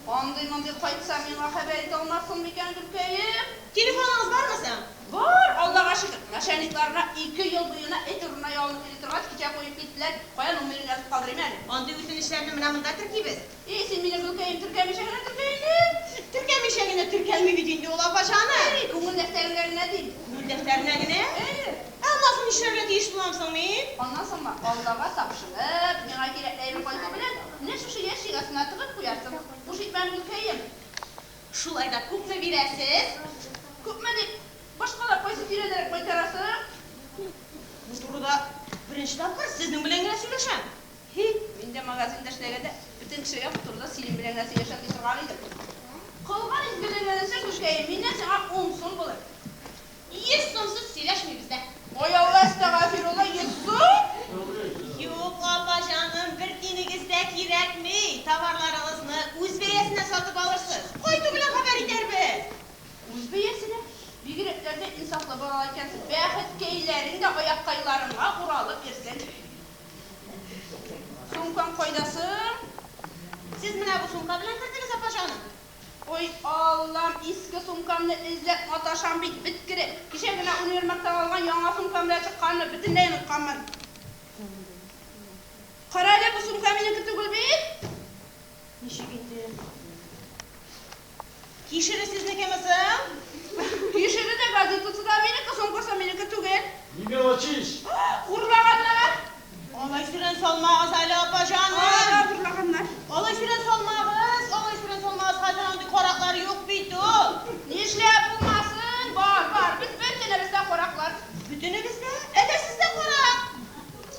Андый-мондый кайтса, миңа хәбәр итә алмассың микән, Гөлкәем? Телефоныгыз бармы соң? Бар, Алдага шөкер. Начальникларына ике ел буена эт урынына ялынып йөри торгач, кичә куеп киттеләр. Кая номерын язып калдырыйм әле. Андый үтенечләрне менә монда теркибез. И, син мине, Гөлкәем, теркәмичә генә теркә инде. Теркәмичә генә теркәлми бит инде ул, апа җаным. Әй, күңел дәфтәреңә генә дим. Күңел дәфтәренә генә? Әйе. Ә аннасы нишләргә тиеш булам соң мин? Аннан соңмы? Аллага тапшырып, миңа кирәкле әйбер кайту белән, менә шушы ящик астына тыгып куярсың. Буш итмәм, гөлкәем. Шулай да күпме бирәсез? Күпме дип, башкалар кайсы тирәдәрәк майтара соң? Бу турыда беренче тапкыр сезнең белән генә сөйләшәм. Һи, мин дә магазинда эшләгәндә, бөтен кешегә бу турыда синең белән генә сөйләшәм ди торган идем. Кылган изгелегең өчен, гөлкәем, миннән сиңа ун сум булыр. Еш сумсыз сөйләшмибез дә. Ой Алла әстәгафирулла йөз сум? Юк Алла җаным бер тинегез дә кирәкми, товарларыгызны үз бәясенә сатып алырсыз, кайту белән хәбәр итәрбез. Үз бәясенә? Бигрәкләр дә инсафлы балалар икәнсез, бәхеткәйләрең дә аяккайларыңа уралып йөрсен. Сумкаң кайда соң? Сез менә бу сумка белән кердегез, апа җаным. Ой, Аллам, иске сумкамны эзләп маташам бит, бет кереп. Кичә генә универмагтан алган яңа сумкам белән чыкканны бөтенләй онытканмын. Кара әле, бу сумка минеке түгел бит! Ничек инде? Кишере сезнекеме соң? Кишере дә, газетасы да минеке, сумкасы минеке түгел. Не мелочись! Урлаганнар! Алай сүрән салмагыз әле, апаҗаным! Алар да урлаганнар. Алай сүрән салмагыз, алай сүрән салмагыз, хәзер андый караклар юк бит ул! Нишләп булмасын, бар, бар, без бөтенебез дә караклар. Бөтенегез дә? Әйдә, сез дә карак!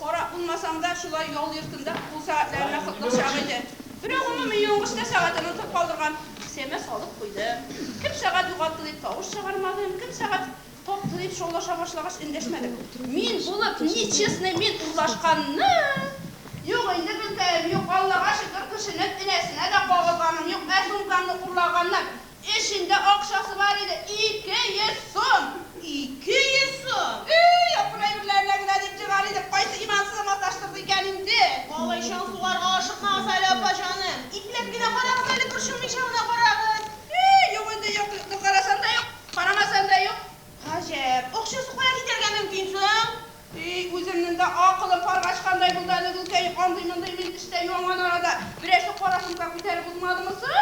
Карак булмасаң да, шулай ял йортында кул сәгатьләренә кытлык чак иде. Берәү гомуми юынгычта сәгатен онытып калдырган. Кесәмә салып куйдым. Кем сәгать югалты дип тавыш чыгармадым, кем сәгать. Таптың дип шаулаша башлагач, эндәшмәдем. Мин булып ни честный мин урлашканны? Юк инде, гөлкәем, юк, Аллага шөкер, кешенең энәсенә дә кагылганым юк, ә сумкаңны урлаганнар, эчендә акчасы бар иде, ике йөз сум! Ике йөз сум! Ий, апыр әйберләренә генә дип егар идем, кайсы имансызы маташтырды икән инде? Малай чаң сугарга ашыкмагыз әле, апа җаным. Ипләп кенә карагыз әле, борчылмыйча гына карагыз. Ий, юк инде, юк, юк, карасам да юк. Карамасам да юк. Гаҗәп, акчасы кая китәргә мөмкин соң? И, үземнең дә акылым парга очкандай булды әле, Гөлкәй, андый-мондый мин эштә юанган арада берәрсе кара сумка күтәреп узмадымы соң?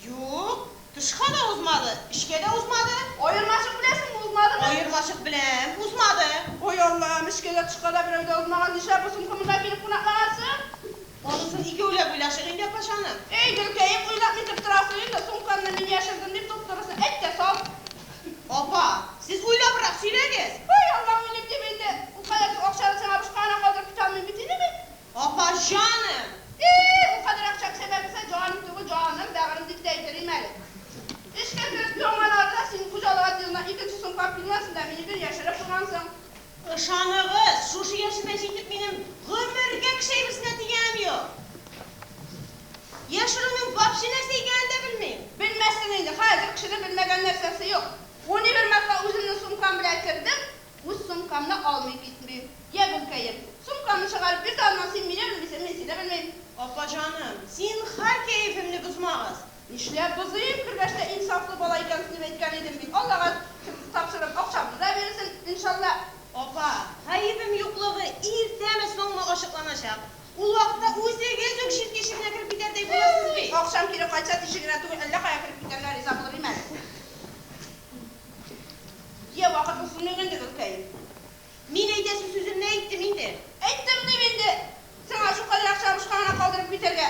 Юк, тышка да узмады, эчкә дә узмады. Аермачык беләсеңме, узмадымы? Аермачык беләм, узмады. Ой, Аллам, эчкә дә, тышка да берәү дә узмаган, нишләп бу сумка монда килеп кунаклаган соң? Анысын икәүләп уйлашыйк инде, апачаным. Әй, Гөлкәем, уйлап нитеп торасың инде, сумкамны мин яшердем дип туп-турысын әйт тә сал. Апа, сез уйлабрак сөйләгез. Һай, Аллам, уйлыйм дип инде, ул кадәр зур акчаны сиңа бушка гына калдырып китә алмыйм бит инде мин. Апа җаным! И-и, ул кадәр акча кесәдә булса, җаным түгел, җаным, бәгырем дип тә әйтер идем әле. Эчкә кереп йоңганнарда, синең хуҗалык отделына икенче сумкам килгәнсен дә, минекен яшереп куйгансың. Ышаныгыз, шушы яшемә җитеп минем гомергә кеше әйберсенә тигәнем юк. Яшерүнең вообще нәрсә икәнен дә белмим. Белмәссең инде, хәзер кешенең белмәгән нәрсәсе юк. Унибер марта үземнең сумкам белән кердем, үз сумкамны алмый китмим. Йә, гөлкәем, сумкамны чыгарып бир дә аннан, син мине белмисең, мин сине белмим. Апаҗаным, зинһар кәефемне бозмагыз. Нишләп бозыйм, кергәчтә инсафлы бала икәнсең дип әйткән идем бит, Аллага тапшырып, акчамны да бирерсең, иншалла. Апа, гаебем юклыгы иртәме, соңмы ачыкланачак. Ул вакытта үзегез үк чит тишегенә кереп китәрдәй булырсыз бит. Акчам кире кайтса, тишегенә түгел, әллә кая кереп китәргә риза булыр им әле. Йә, вакыт узмыйк инде, гөлкәем. Мин әйтәсе сүземне әйттем инде. Әйттем, дим инде. Сиңа шулкадәр акча бушка гына калдырып китәргә.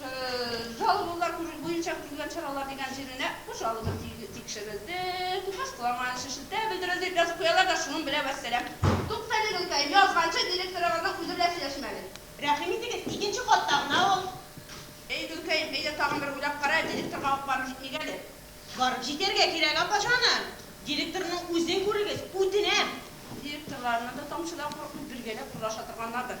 Жалобалар күрү буенча күрелгән чаралар дигән җиренә, бу жалоба тикшерелде, тупас кыланмаган өчен шелтә белдерелде дип язып куялар да, шуның белән вәссәлам. Туктале, гөлкәем, язганчы директорыгызның үзе белән сөйләшим әле. Рәхим итегез, икенче катта гына ул. Әй, гөлкәем, әйдә тагын бер уйлап кара, директорга ук барып җитмик әле. Барып җитәргә кирәк, апаҗаным. Директорның үзен күрегез, үтенәм. Директорларны да тамчыдан курыкмый, бергәләп урлаша торганнардыр.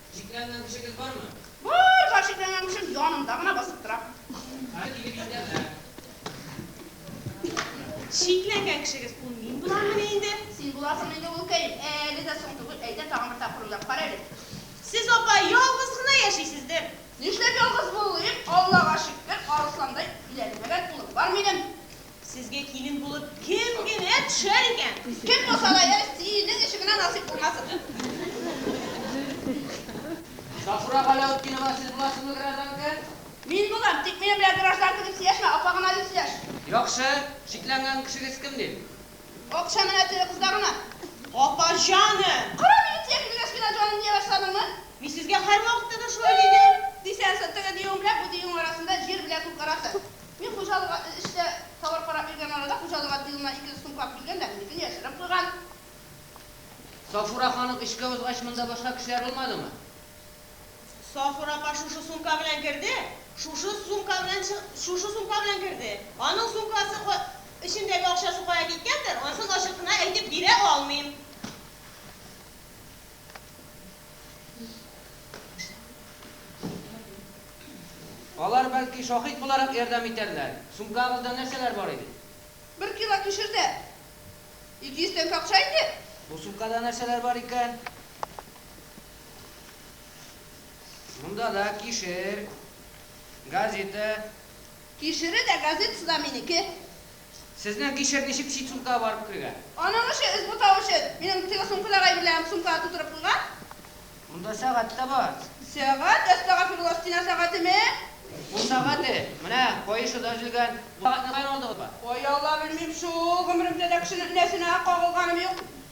Шикләнгән кешегез бармы? Бар, бар, шикләнгән кешем янымда гына басып тора. Хәзер килеп җитәрләр. Шикләнгән кешегез ул мин буламмыни инде? Син буласың инде, улкаем. Әле дә соң түгел, әйдә, тагын бер тапкыр уйлап кара әле. Сез, апа, ялгыз гына яшисездер? Нишләп ялгыз булыйм, Аллага шөкер, арысландай биләнмәгән улым бар минем. Сезгә килен булып кем генә төшәр икән? Кем булса да йә синең өчен генә насыйп булмасын. Сафура Галәүтдинова, сез буласызмы гражданка? Мин булам, тик минем белән гражданка дип сөйләшмә, апа гына дип сөйләш. Яхшы, шикләнгән кешегез кем дим? Акча менә теге кызда гына. Апа җаны! Кара мине тия кергәч кенә җаным дия башладыңмы? Мин сезгә һәрвакытта да шулай дидем. Дисәң шул, теге диюең белән бу диюең арасында җир белән күк арасы. Мин хуҗалыга эз эчтә товар карап йөргән арада хуҗалык әти улына ике сум как биргән дә минекен яшереп куйган. Сафура ханым эшкә узгач монда башка кешеләр булмадымы? Сафура апа шушы сумка белән керде, шушы сумка белән чы, шушы сумка белән керде. Аның сумкасы ка, эчендәге акчасы кая киткәндер, ансын ачык кына әйтеп бирә алмыйм. Алар, бәлки, шаһит буларак ярдәм итәрләр. Сумкагызда нәрсәләр бар иде? Бер кило кишердә. Ике йөз тәңкә акча иде. Бу сумкада нәрсәләр бар икән? Монда да кишер, газета. Кишере дә, газетасы да минеке. Сезнең кишер ничек чит сумкага барып кергән? Аның эше эз бутау өчен. Минем теге сумкадагы әйберләрем сумкага тутырып куйган. Монда сәгать тә бар. Сәгать? Әстәгафирулла, стена сәгатеме? Кул сәгате. Менә каешы да өзелгән. Бу сәгатьне каян алдыгызба? Кая ала, белмим шул. Гомеремдә дә кешенең энәсенә кагылганым юк.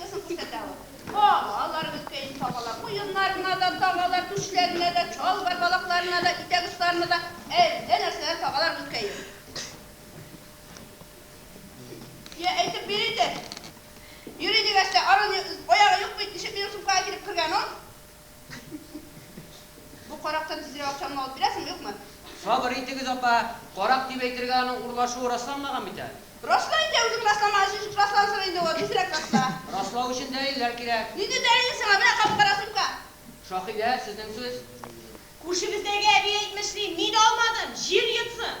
Кызык бит әтә ул. Кагалар беткәен кагалар, муеннарына да тагалар, түшләренә дә, чалбар балакларына да, итәк очларына да әллә нәрсәләр тагалар беткәен. Я, әйтеп бир инде. Йөри дигәч тә, аның аягы юк бит, ничек минем сумкага килеп кергән ул? Бу карактан тизрәк акчаңны алып бирәсең, юкмы? Сабыр итегез, апа. Карак дип әйтергә аның урлашуы расланмаган бит әле. Расла инде, үзең расламаган өчен ничек раслансын инде ул, тизрәк расла. Раслау өчен дәлилләр кирәк. Нинди дәлил сиңа, менә кап-кара сумка. Шаһидә, сезнең сүз. Күршебездәге әби әйтмешли, мин алмадым, җир йотсын!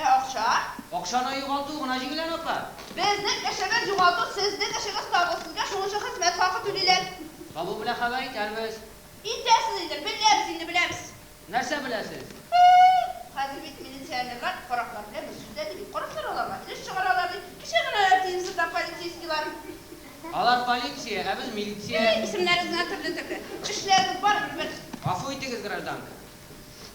Ә акча? Акчаны югалту гына җиңел аны апа. Безнең эшебез югалту сезнең эшегез табу сезгә шуңынча хезмәт хакы түлиләр. Табу белән хәбәр итәрбез. Итәсез инде, беләбез инде, беләбез. Нәрсә беләсез? Хәзер бит милиционерлар караклар белән бер сүздә ди бит, караклар аларга өлеш чыгаралар ди, кичә генә тиемсез да полицейскийлар. Алар полиция, ә без милиция. Исемнәрегез генә төрле-төрле. Эшләрегез барыбер бер. Гафу итегез гражданка.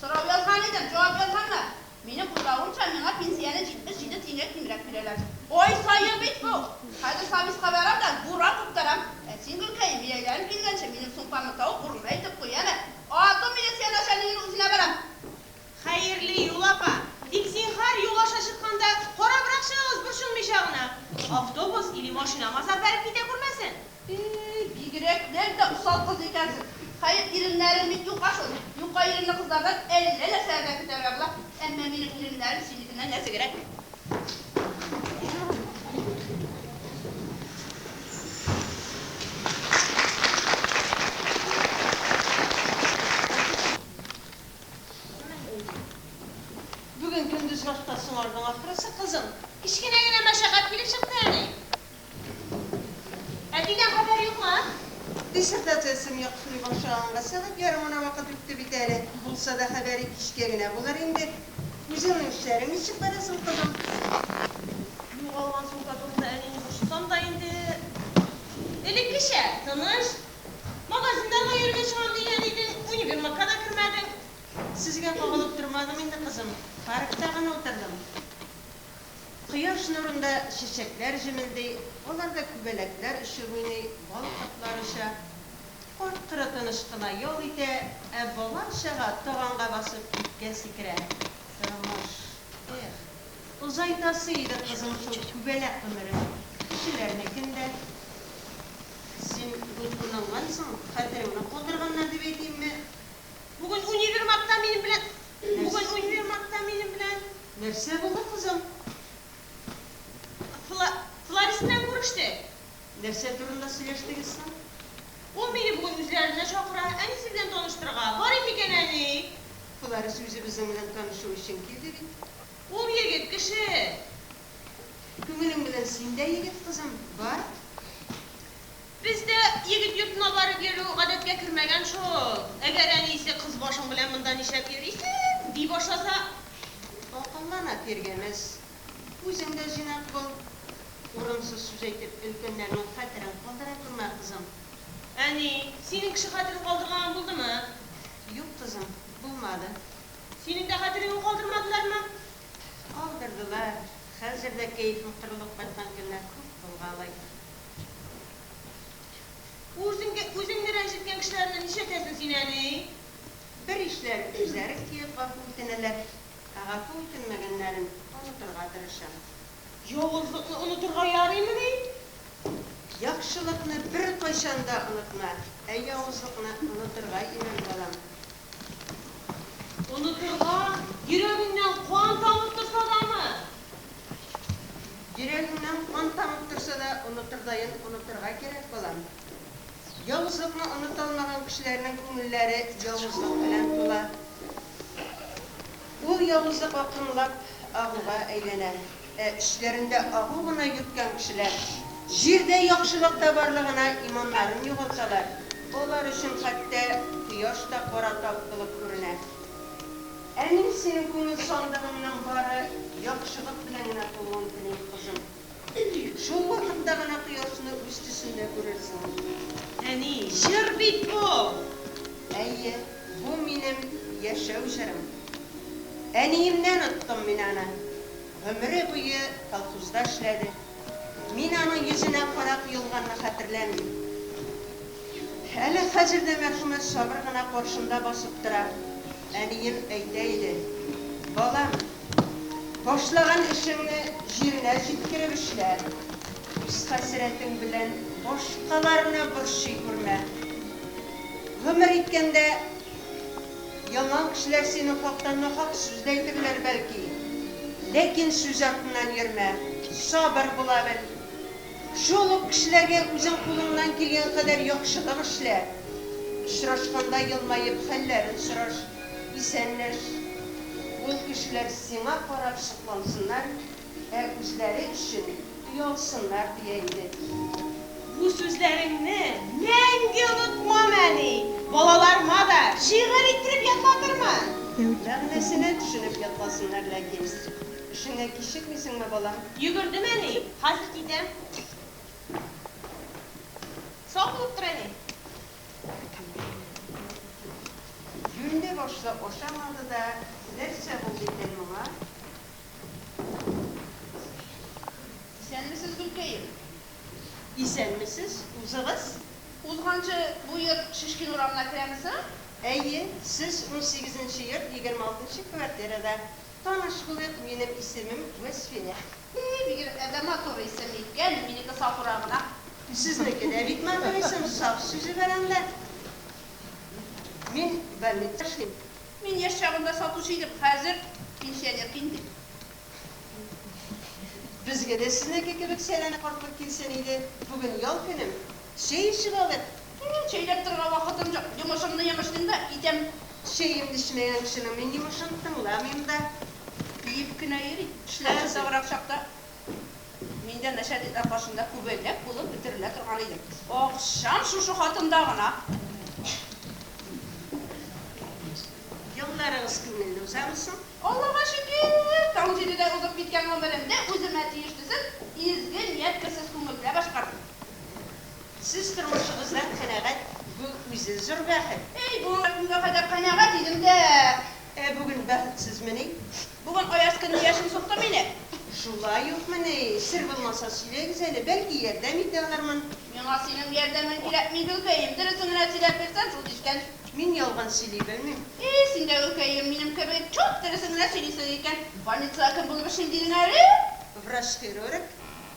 Сорау язган идем, җавап язганнар. Минем уйлавымча, миңа пенсияне 77 тиенгә кимрәк бирәләр. Ай саен бит бу! Хәзер Сабиска барам да, буран куптарам. Ә син, Гөлкәем, бияләрең килгәнче, минем сумкамны тавык урынына илтеп куй әле. Ату милиция начальнигының үзенә барам. Хәерле юл, апа. Тик, зинһар, юл аша чыкканда, карабрак чыгыгыз, борчылмыйча гына. Автобус или машинама сапәреп китә күрмәсен. Ии, бигрәк нән дә усал кыз икәнсең. Хәер, иреннәрең бит юка шул. Юка иренле кызлардан әллә нәрсәләр дә көтәргә була. Әмма минем иреннәрем синекеннән нәзегрәк. Бүген көндез башта соңардың ахрысы, кызым. Кечкенә генә мәшәкать килеп чыкты, әни. Әтидән хәбәр юкмы? Диссертациясен яхшылый башлаганга сәгать ярым гына вакыт үтте бит әле. Булса да, хәбәре кичкә генә булыр инде. Үзеңнең эшләрең ничек бара соң, кызым? Югалган сумка турында әнине борчысам да инде, элеккечә, тыныч. Магазиннарга йөрергә чыгам дигән идең, универмагка да кермәдең. Сезгә кагылып тормадым инде, кызым. Паркта гына утырдым. Кояш нурында чәчәкләр җемелди, аларда күбәләкләр очып уйный, бал кортлары оча. Карт-коры тыныч кына ял итә, ә бала-чага таганга басып биткә сикерә. Тормыш, эх, озайтасы иде, кызым, шул күбәләк гомерен, кешеләрнекен дә. Син дулкынлангансың, хәтереңне калдырганнар дип әйтимме? Бүген универмагта минем белән. Нәрсә? Бүген универмагта минем белән. Нәрсә булды, кызым? Фла, Фларис белән күрештек. Нәрсә турында сөйләштегез соң? Ул мине бүген үзләренә чакыра, әнисе белән таныштырырга. Барыйк икән, әни! Фларис үзе безнең белән танышу өчен килде бит. Ул егет кеше! Күңелең белән син дә егет, кызым, бар. Бездә егет йортына барып йөрү гадәткә кермәгән шул. Әгәр әнисе кыз башың белән монда нишләп йөрисең? ди башласа, акыллана тиргәмәс. Үзең дә җыйнак бул. Урынсыз сүз әйтеп, өлкәннәрнең хәтерен калдыра күрмә, кызым. Әни, синең кеше хәтерен калдырган булдымы? Юк, кызым, булмады. Синең дә хәтереңне калдырмадылармы? Калдырдылар. Хәзер дә кәефең кырылып кайткан көннәр күп булгалый. Үзеңгә үзеңне рәнҗеткән кешеләрне нишләтәсең син әни? Бер ишләр, үзләре килеп гафу үтенәләр. Ә гафу үтенмәгәннәрен онытырга тырышам. Явызлыкны онытырга ярыймыни? Яхшылыкны беркайчан да онытма, ә явызлыкны онытырга өйрән, балам. Онытырга, йөрәгеңнән кан тамып торса дамы? Йөрәгеңнән кан тамып торса да, онытырдаен онытырга кирәк, балам. Явызлыкны оныта алмаган кешеләрнең күңелләре явызлык белән тула. Ул явызлык акрынлап агуга әйләнә. Ә эчләрендә агу гына йөрткән кешеләр җирдә яхшылык та барлыгына иманнарын югалталар, алар өчен хәтта кояш та кара тап булып күренә. Ә мин синең күңел сандыгыңның бары яхшылык белән генә тулуын телим, кызым. Шул вакытта гына кояшны үз төсендә күрерсең. Әни, җыр бит бу! Әйе, бу минем яшәү җырым. Әниемнән оттым мин аны. Гомере буе колхозда эшләде. Мин аның йөзенә кара коелганны хәтерләмим. Әле хәзер дә мәрхүмә сабыр гына каршында басып тора. Әнием әйтә иде, Балам, башлаган эшеңне җиренә җиткереп эшлә. Үз хәсрәтең белән башкаларны борчый күрмә. Гомер иткәндә, Яңа кешеләр синең хакта нахак сүз дә әйтерләр, бәлки. Ләкин сүз артыннан йөрмә, сабыр була бел. Шул ук кешеләргә үзең кулыңнан килгән кадәр яхшылык эшлә. Очрашканда елмаеп хәлләрен сораш, исәнләш. Ул кешеләр сиңа карап соклансыннар, ә үзләре өчен оялсыннар дия иде. Бу сүзләреңне мәңге онытмам, әни! Балаларыма да шигырь иттереп ятлатырмын! Мәгънәсенә төшенеп ятласыннар ләкин. Эшеңә кичекмисеңме, балам? Йөгердем, әни, хәзер китәм. Сау булып тор, әни! Юньле башлы ашамады да, нәрсә булды икән моңа? Исәнмесез, Гөлкәем! Исәнмесез, узыгыз. Узганчы бу йорт Шишкин урамына керәме соң? Әйе, сез унсигезенче йорт егерме алтынчы квартирада. Таныш булыйк, минем исемем Вәсфинә. И, бик дә матур исем икән, минеке Сафура гына. Сезнеке дә бик матур исем, саф сүзе бар анда. Мин больница эшлим. Мин яшь чагында сатучы идем, хәзер пенсионер кин дип. Безгә дә сезнеке кебек сәләмә картлык килсен иде, бүген ял көнем, чәй эчеп алыйк. Минем чәйләп торырга вакытым юк, йомышымны йомышлыйм да китәм. Чәемне эчмәгән кешенең мин йомышын тыңламыйм да. Биеп кенә йөрим, эшләр озаграк чакта. Мин дә нәшәдидләр каршында күбәләк булып бетерелә торган идем. Акчам шушы хатында гына. Елларыгыз күңелле узамы соң? Аллага шөкер, таң җидедә узып киткән гомеремне үземә тиеш төзеп, изге ният керсез күңел белән башкардым. Сез тормышыгыздан канәгать, бу үзе зур бәхет. Әй, бу гына көнгә кадәр канәгать идем дә. Ә бүген бәхетсезмени? Бүген аяз көнне яшен сукты мине. Шулай юкмыни? Сер булмаса сөйләгез әле, бәлки ярдәм итә алырмын. Миңа синең ярдәмең кирәкми, гөлкәем, дөресен генә сөйләп бирсәң шул дишкән. Мин ялган сөйли белмим. И, син дә гөлкәем, минем кебек чуп дөресен генә сөйлисең икән. Больницага кем булып эшлим дидең әле? Врач-хирург.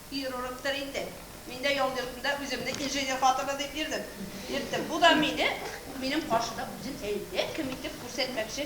Хирургтыр инде. Мин дә ял йортында үземне инженер хатыны дип йөрдем. Йөрттем. Бу да мине минем каршыда үзен әллә кем итеп күрсәтмәкче.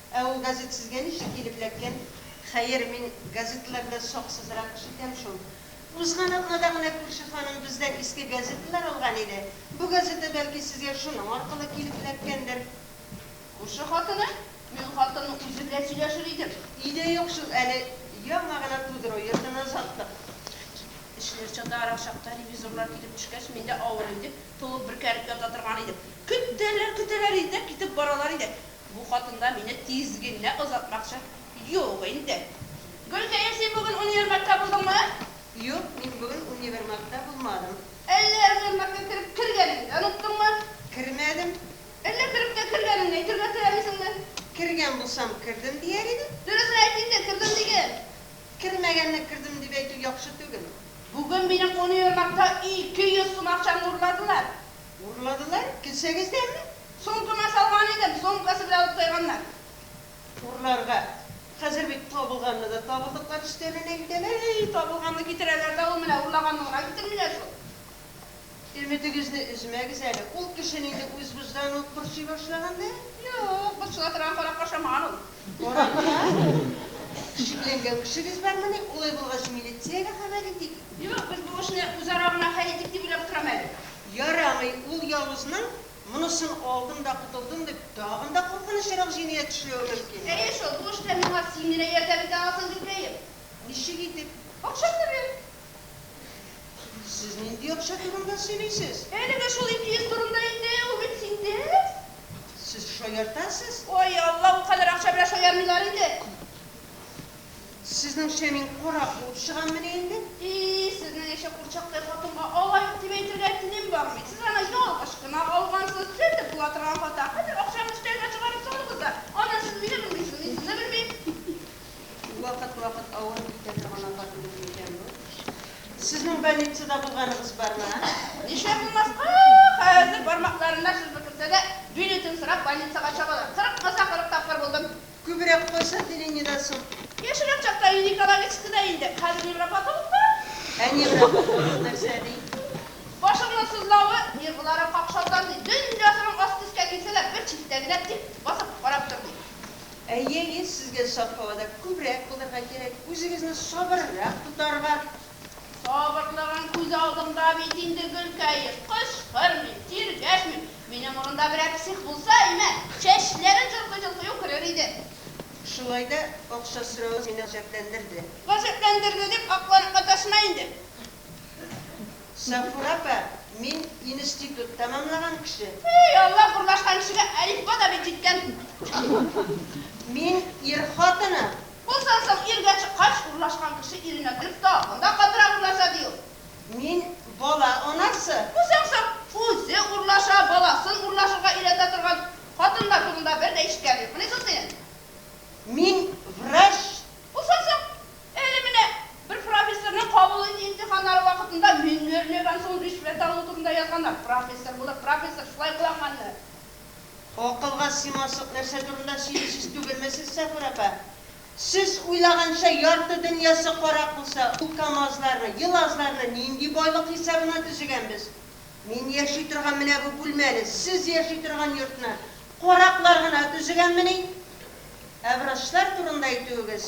Ә ул газет сезгә ничек килеп эләккән? Хәер, мин газеталарда саксызрак эш итәм шул. Узган атнада гына күрше ханым бездән иске газеталар алган иде. Бу газета, бәлки, сезгә шуның аркылы килеп эләккәндер. Күрше хатыны? Мин хатынның үзе белән сөйләшер идем. И дә юк шул, әле яңа гына тудыру йортын озаттык. Эшләр чатарак чакта, ревизорлар килеп төшкәч, мин дә авырыйм дип, тулып бөркәнеп ята торган идем. Көтәләр, көтәләр иде дә китеп баралар иде. Бу хатын да мине тиз генә озатмакчы. Юк инде. Гөлкәем, син бүген универмагта булдыңмы? Юк, мин бүген универмагта булмадым. Әллә универмагка кереп кергәнеңне оныттыңмы? Кермәдем. Әллә кереп тә кергәнеңне әйтергә теләмисеңме? Кергән булсам, кердем дияр идем. Дөресен әйт инде, кердем диген. Кермәгәнне кердем дип әйтү яхшы түгел. Бүген минем универмагта ике йөз сум акчамны урладылар. Урладылар, кесәгездәме? Сумкама салган идем, сумкасы белән алып тайганнар. Урларга. Хәзер бит табылганны да табылдыклар өстәленә әйтәләр. Әй, табылганны китерәләр дә ул менә урлаганны гына китермиләр шул. Өметегезне өзмәгез әле, ул кеше нинди үзбуздан ук борчый башлаган да. Юк, борчыла торган каракка ошамаган ул. Барырга? Шикләнгән кешегез бармыни? Улай булгач, милициягә хәбәр итик. Юк, без бу эшне үзара гына хәл итик дип уйлап торам әле. Ярамый, ул явызның, монысын алдым да котылдым дип, тагын да куркынычрак җинаять эшләве мөмкин. Әйе шул, бу эштә миңа син генә ярдәм итә аласың, Гөлкәем. Ничек итеп? Акчамны бир. Сез нинди акча турында сөйлисез? Әлеге шул ике йөз турында инде, ул бит синдә. Сез шаяртасыз? Ой, Алла, ул кадәр акча белән шаярмыйлар инде. Сезнеңчә мин карак булып чыгаммыни инде? И, сезнең ише курчактай хатынга алай ук дип әйтергә телем бармый. Сез аны ялгыш кына алгансыз. Төзәтеп була торган хата. Хәзер акчаны өстәлгә чыгарып салыгыз да, аннан сез мине белмисез, мин сезне белмим. Бик вакыт-вакыт авырып китә торган апа түгел микән бу? Сезнең больницада булганыгыз бармы, ә? Нишләп булмаска, хәзер бармакларына шырпы керсә дә, билетын сорап больницага чабалар. Кырык кызда кырык тапкыр булдым. Күбрәк кайсы отделениедә соң? Яшьрәк чакта Ильи Коломенскийда инде, хәзер невропатологта. Ә невропатолог нәрсә ди? Башыңның сызлавы, нерв буларак какшалган, ди. Дөньясының асты өскә килсә дә, бер читтә генә тик басып карап тор, ди. Әйе, ир сезгә саф һавада күбрәк булырга кирәк, үзегезне сабыррак тотарга. Сабырлыгың күз алдымда бит инде, Гөлкәем. Кычкырмыйм, тиргәшмим. Минем урында берәр псих булса, әймә, чәчләрен җолкый-җолкый үкерер иде. Шулай да акча соравы мине гаҗәпләндерде. Гаҗәпләндерде дип акланып маташма инде. Сафура апа, мин институт тәмамлаган кеше. Эй, Аллаһ, урнашкан кешегә әлифба да бит җиткән. Мин ир хатыны. Булсын соң, иргә чыккач, урлашкан кеше иренә кереп тагын да катырак урлаша, ди ул. Мин бала анасы. Булсын соң, үзе урлаша, баласын урлашырга өйрәтә торган хатыннар турында бер дә ишеткәнем юк. Менә шул синең. Мин врач. Булсын соң, Әле менә бер профессорның кабул итү имтиханнары вакытында мине өрмәгән соң ришвәт алу турында язганнар. Профессор булып, профессор шулай кыланганны. Акылга симаслык нәрсә турында сөйлисез түгелме сез, Сафур апа? Сез уйлаганча, ярты дөньясы карак булса, ул камазларны, елазларны нинди байлык хисабына төзегәнбез? Мин яши торган менә бу бүлмәне, сез яши торган йортны караклар гына төзегәнмени? Ә врачлар турында әйтүегез.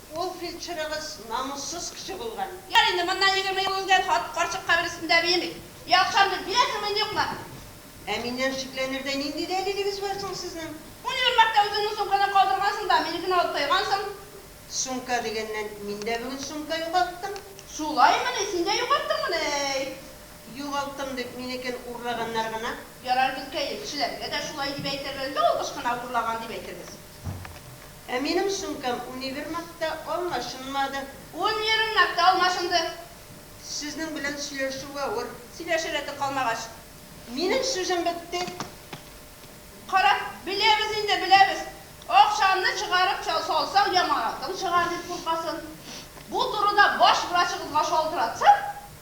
Ул фельдшерыгыз намуссыз кеше булган. Ярый инде, моннан егерме ел элгәр хатын карчык каберестендә биеми. Яхшы андый, бия кермәен юкмы? Ә миннән шикләнердәй нинди дәлилегез бар соң сезнең? Унибер мәртә үзеңнең сумкаңны калдыргансың да, минекене алып тайгансың. Сумка дигәннән, мин дә бүген сумка югалттым. Шулаймыни, син дә югалттыңмыни, әй? Югалттым дип, минекен урлаганнар гына. Ярар, безгә, илчеләргә дә шулай дип әйтербез, ялгыш кына урлаган дип әйтербез. Ә минем сумкам универмагта алмашынмады. Универмагта алмашынды. Сезнең белән сөйләшү авыр. Сөйләшер рәте калмагач. Минем сүзем бетте. Карап, беләбез инде, беләбез. Акчаны чыгарып салсаң, яңаракын чыгар дип куркасың. Бу турыда баш врачыгызга шалтыратсаң.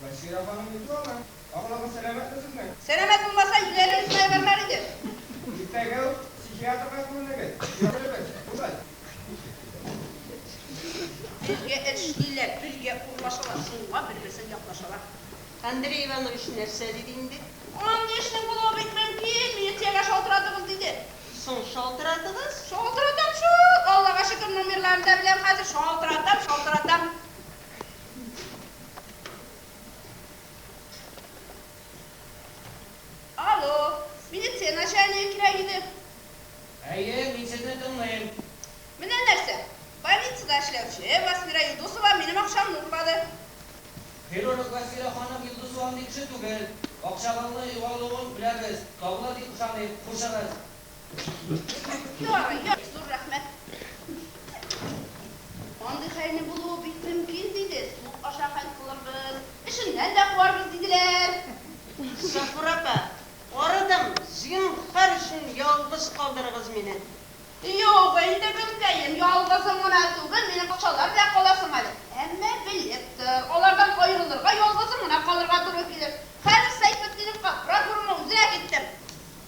Гөлсия апаның йөзе ала. Абылагыз сәламәтме сезнең? Сәламәт булмаса, юләре үзенә ябарлар иде. Иртәгә үк психиатрга күренегез. Йөрербез. Бүген. Бергә эшлиләр, бергә урлашалар, шуңа бер-берсен яклашалар. Андрей Иванович нәрсә диде инде? Андый эшнең булуы бик мөмкин, милициягә шалтыратыгыз, диде. Соң шалтыратыгыз? Шалтыратам шул, Аллага шөкер, номерларын да беләм хәзер, шалтыратам, шалтыратам. Алло, милиция начальнигы кирәк иде. Әйе, мин сезне тыңлыйм. Менә нәрсә, больницада эшләүче Васфира Юлдусова минем акчамны урлады. Хирург Васфира ханым Юлдусова андый кеше түгел. Акчагызны югалуын беләбез, табыла дип ышаныйм. Хушыгыз. Ярый, ярый, зур рәхмәт. Андый хәлне булуы бик мөмкин, диде. Суп аша хәл кылырбыз, эшеннән дә куарбыз, диделәр. Сафура апа, арыдым, зинһар өчен ялгыз калдырыгыз мине. Юк инде, гөлкәем, ялгызың гына түгел, минем бакчалар белән каласың әле. Әмма белеп тор, алардан аерылырга, ялгызың гына калырга туры килер. Хәзер Сәйфетдиновка прокурорның үзенә киттем.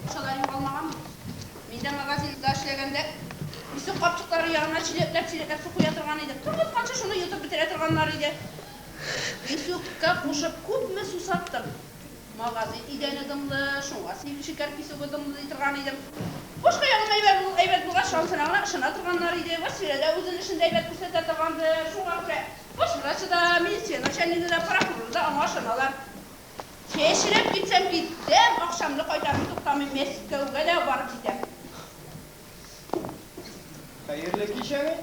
Акчаларым калмаган. Мин дә магазинда эшләгәндә исек капчыклары янына чиләкләп-чиләкләп су куя торган идек. Кем кайтканчы шуны йотып бетерә торганнар иде. Писюкка кушып күпме су саттым. Магазин идәне дымлы, шуңа син шикәр писюгы дымлы ди торган идем. Башка ягыннан әйбәт ул, әйбәт булгач шансына гына ышана торганнар иде. Вәсфирә дә үзен эшен дә әйбәт күрсәтә торгандыр, шуңа күрә врач та, медицина начальнигы да, прокурор да аңа ышаналар. Чәчрәп китсәм китәм, акчамны кайтарам, туктамыйм, Мәскәүгә дә барып җитәм. Хәерле кич, әни.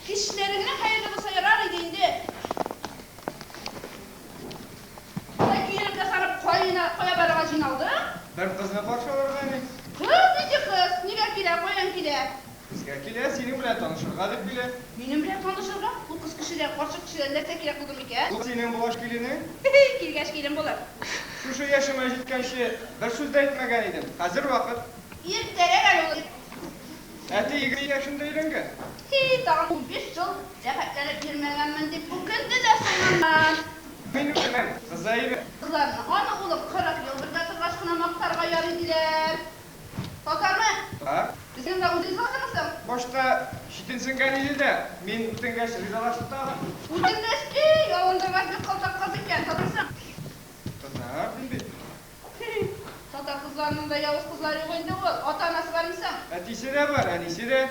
Кичләреңнең хәерле булса ярар иде инде. Болай киенеп ясанып каена, кая барырга җыйналдың? Бер кызны каршы алырга, әни. Кыз нинди кыз? Нигә килә, каян килә? Безгә килә, синең белән танышырга дип килә. Минем белән танышырга? Ул кыз кешедән, карчык кешедән нәрсә кирәк булды микән? Ул синең булгач киленең. Хе-хей, килгәч килен булыр. Шушы яшемә җиткәнче бер сүз дә әйтмәгән идем, хәзер вакыт. Иртәрәк әле ул, дип. Әти егерме яшендә өйләнгән. Хи, тагын унбиш ел рәхәтләнеп йөрмәгәнмен, дип үкенде дә соңыннан. Мин үкенәм, кызы әйбәт. Кызларны, аны, улым, кырык ел бергә торгач кына мактарга ярый, диләр. Татармы? Ха? Безнең белән үтен сатамы соң? Башта читенсенгән иде дә, мин үтенгәч ризалашты тагын. Үтенгәч ди, ялындыргач бик калтак кыз икән, татарсың? Татар дим бит. Хи-хи, татар кызларының да явыз кызлары юк инде ул. Ата-анасы бармы соң? Әтисе дә бар, әнисе дә.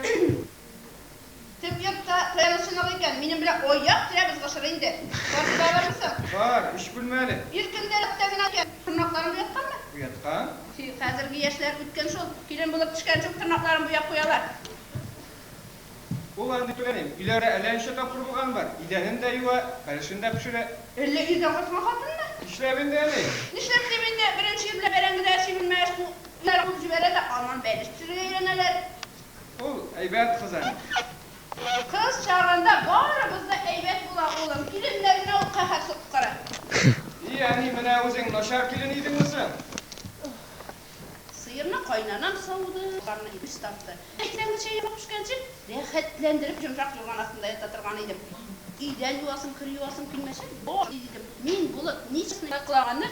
Төп йортта ферма сынагы икән, минем белән аяк терәбез гышыр инде. Бар килә алырмы соң? Бар, өч бүлмәле. Ир көндә рәттә генә икән. Тырнакларын буятканмы? Буяткан. Чи, хәзерге яшьләр үткен шул. Килен булып төшкән чук тырнакларын буяп куялар. Ул андый түгел инде. Өйләре әллә ничә тапкыр булган бар. Идәнен дә юа, фәрешен дә пешерә. Әллә ирдән кайткан хатынмы? Нишләп инде әни? Нишләп дим инде, беренче ирләр бәрәңгеләр, чимермәләр куып җибәрә дә аннан бәлеш пешерергә өйрәнәләр. Ул, әйбәт кыз әле. Кыз чагында барыбыз да әйбәт була, улым. Киленнәренә ул каһәр суккыры. И, әни, менә үзең начар килен идеңме соң? Сыерны кайнанам сауды. Юрганны ипис тартты. Иртәнге чәй яңа пешкәнче, рәхәтләндереп йомшак юрган астында ята торган идем. Өйдән юасым, кер юасым килмәсә, бар идем. Мин, Болыт, ничек кенә кылаганны.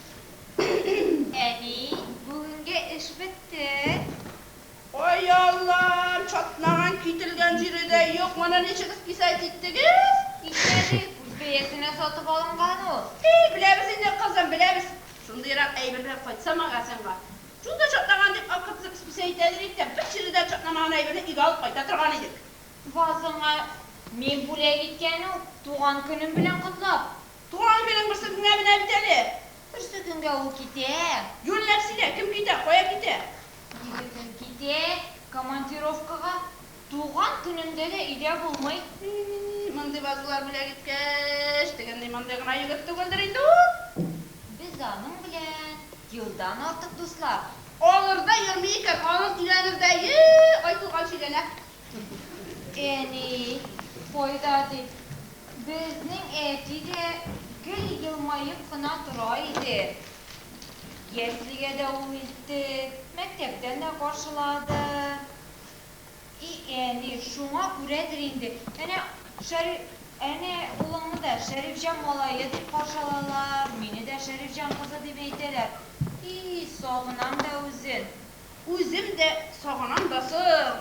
Әни, бүгенге эш бетте. Ай Аллам, чатнаган, кителгән җире дә юк, моны ничек списать иттегез? Итмәдек, үз бәясенә сатып алынган ул. И, беләбез инде, кызым, беләбез. Шундыйрак әйберләр кайтса магазинга, чунда чатнаган дип акыртып списаитләдер идек тә, бер җире дә чатнамаган әйберне өйгә алып кайта торган идек. Вазыңа мин бүләк иткән ул, туган көнем белән котлап. Туган көнең берсе көнгә менә бит әле. Берсе көнгә ул китә. Юньләп сөйлә, кем китә, кая китә? Егетең китә командировкага. Туган көнеңдә дә өйдә булмый. И-и-и, мондый вазалар бүләк иткәч, дигәндәй мондый гына егет түгелдер инде ул. Без аның белән елдан артык дуслар. Алырда йөрми икән, аның өйләнердәе айтылган чигәнәк. Әни, кайда дип, безнең әти дә гел елмаеп кына тора иде. Яслигә дә ул илтте, мәктәптән дә каршылады. И әни, шуңа күрәдер инде, әнә Шәриф, әнә улыңны да Шәрифҗан малае дип каршы алалар, мине дә Шәрифҗан кызы дип әйтәләр. И, сагынам да үзен. Үзем дә сагынам да соң.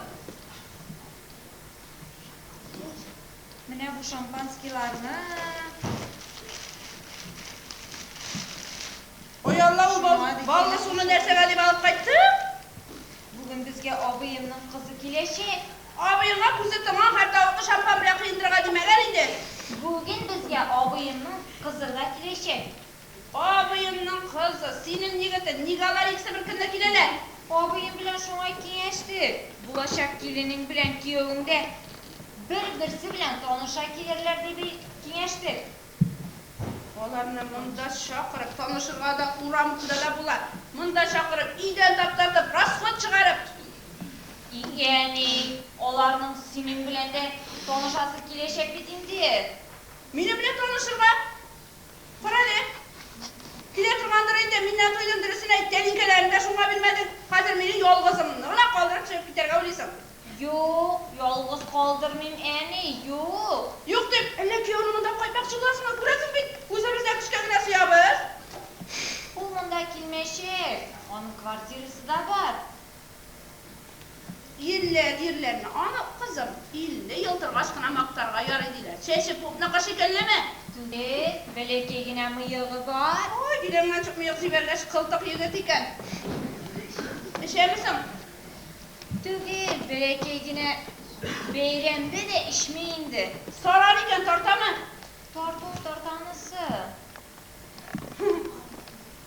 Менә бу шампанскийларны. Ой, Алла, ул баллы суны нәрсәгә дип алып кайттың? Бүген безгә абыемның кызы киләчәк. Абыеңа күзе тонган хәртавыкны шампан белән коендырырга димәгән инде. Бүген безгә абыемның кызырга киләчәк. Абыемның кызы, синең егетең, ник алар икесе бер көнне киләләр? Абыем белән шуңа киңәштек. Булачак киленең белән кияүең дә бер-берсе белән таныша килерләр дип киңәштек. Аларны монда чакырып, танышырга да, урам турында да була. Монда чакырып, өйдән таптатып, расход чыгарып. И әни, аларның синең белән дә танышасы киләчәк бит инде. Минем белән танышырга? Карале, килә торгандыр инде, мин нә туйдым, дөресен әйт, тәлинкәләрен дә шуңа бирмәдең, хәзер мине ялгызымны гына калдырып чыгып китәргә уйлыйсың. Юк, ялгыз калдырмыйм, әни, юк. Юк дип, әллә кияүне монда кайтмакчы буласыңмы, күрәсең бит, үзебез дә көчкә генә сыябыз. Ул монда килмәячәк, аның квартирасы да бар. Илле, ирләрне анык, кызым, илле ел торгач кына мактарга ярый, диләр. Чәче пупныкы шикеллеме? Түгел, бәләкәй генә мыегы бар. Ай, биләмганчык мыек җибәргәч, кылтык егет икән. Эчәме соң? Түгел, бәләкәй генә бәйрәмдә дә эчми инде. Сарар икән, тартамы? Тарту, тартанысы.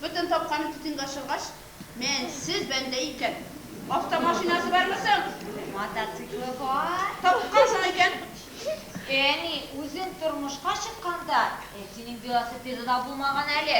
Бөтен тапканы титенга чоргач, мәнсез бәндә икән. Автомашинасы бармы соң? Мотоциклы бар. Тапкансың икән. Әни, үзең тормышка чыкканда, әтинең велосипеды да булмаган әле.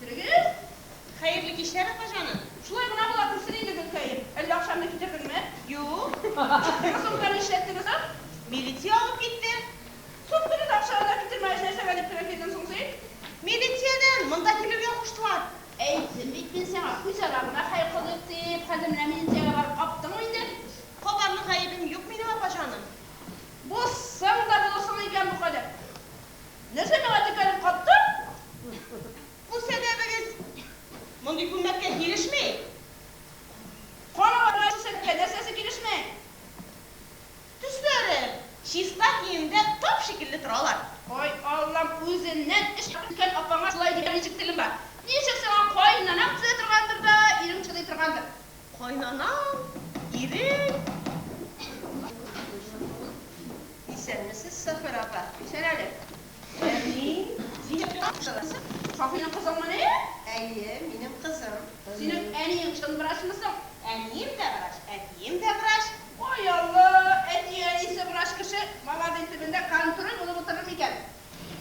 Керегез! Хәерле кичләр, апаҗаным! Шулай гына була күрсен инде, Гөлкәем. Әллә акчамны китердеңме? Юк. Кроссовканы эшләттегез ам? Милиция алып китте. Суд көне дә акчаны да китермәгәч, нәрсәгә дип керә килдең соң син? Милициядән монда килергә куштылар. Әйттем бит мин сиңа, үзара гына хәл кылыйк дип. Хәзер менә милициягә барып каптыңмы инде? Кабарлык гаебем юк минем, апаҗаным. Булсаң да булырсың икән бу кадәр! Нәрсә миңа текәлеп каттың? Күрсәтәбегез. Мондый күлмәккә килешми. Кара аны күрсәтергә нәрсәсе килешми? Төсләре. Чиста киемдә тап шикелле торалар. Ай Аллам, үзеннән эш алып киткән апаңа шулай димә, ничек телең бар? Ничек сиңа каенанам төзәтергәндер дә, ирең чыдый торгандыр? Кайнанаң, ирең. Исәнмесез, Сафер апа. Исән әле. Әни. Синең кызыңмы? Шафыйның кызыңмы ни? Әйе, минем кызым. Синең әниең чын врачмы соң? Әнием дә врач, әтием дә врач. Ой Алла, әти-әнисе врач кеше маланың төбендә контроль булып утырыр микән?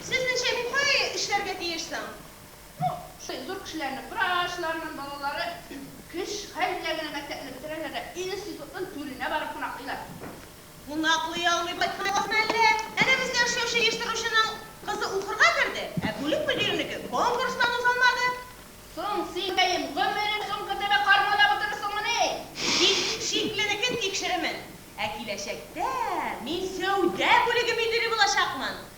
Сезнеңчә мин кая эшләргә тиеш соң? Бу шул зур кешеләрнең, врачларның балалары кеш хәл белән генә мәктәпне бетерәләр дә институтның түренә барып кунаклыйлар. Кунаклый алмый кайтканыгызмы әллә? Әнә бездә эшләүче оештыручының кызы укырга керде, ә бүлек мөдиренеке конкурстан узалмады. Соң син, бәем, гомерең соңгы тәбә кармада утырырсыңмыни? Тик шикленекен тикшеремен. Ә киләчәктә мин сәүдә бүлеге мөдире булачакмын.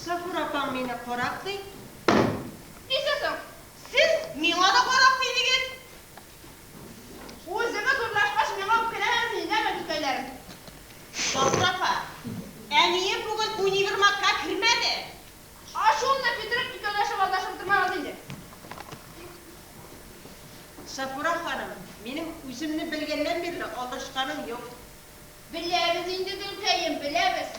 Сафура апаң мине карак ди. Нишли соң? Сез миңа да карак дидегез. Үзегез урлашкач, миңа үпкәләмәгез, миндәме, түтәйләрем. Сафура апа, әнием бүген универмагка кермәде. Ачуымны китереп, икәүләшеп алдашып утырмагыз инде. Сафура ханым, минем үземне белгәннән бирле алдашканым юк. Беләбез инде, Гөлкәем, беләбез.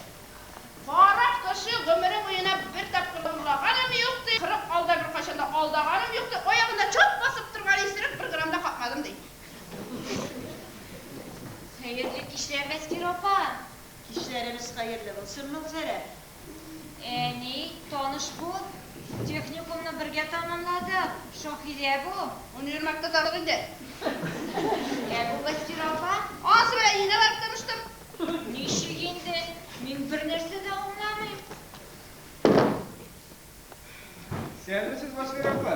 Кара кеше гомере буена бер тапкыр да урлаганым юк, ди. Кырык алда беркайчан да алдаганым юк, ди. Аягында чат басып торган исерек бер грамм да какмадым, ди. Хәерле кичләр, Мәскирә апа! Кичләребез хәерле булсын, Могзәрә! Ә ни, таныш бу. Техникумны бергә тәмамладык. Шаһидә бу. Универмагта танык инде. Ә бу Вәсфирә апа. Анысы белән өенә барып таныштым. Ничек инде? Мин бернәрсә дә аңламыйм. Исәнмесез, Вәсфирә апа.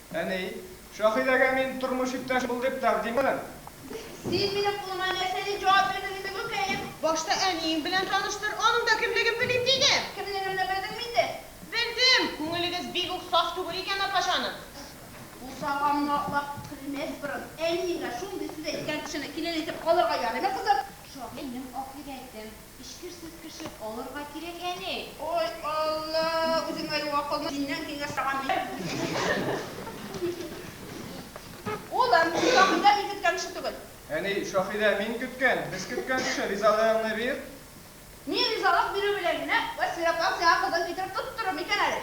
Әни, Шаһидәгә мин тормыш иптәш бул дип тәкъдим итәм. Син минем кулыма нәрсә дип җавап бирдең инде, гөлкәем? Башта әниең белән таныштыр, аның да кемлеген белим, дидем. Кемлегемне белдеңме инде? Белдем, күңелегез бик үк саф түгел икән, апаҗаным. Бусаганны аклап көлмәс борын, әниеңә шундый сүз әйткән кешене килен итеп алырга ярыймы, кызым? Шаһинең аклыгы әйттем. Эчкер сөт кеше алырга кирәк әни. Ой Алла, үзең әле акыллы, синнән киңәш саган мин. Улым, син Шаһидә мин көткән кеше түгел. Әни, Шаһидә мин көткән, без көткән кеше, ризалыгыңны бир. Ни ризалык бирү белән генә Вәсиләпам сиңа кызын китереп тоттырыр микән әле?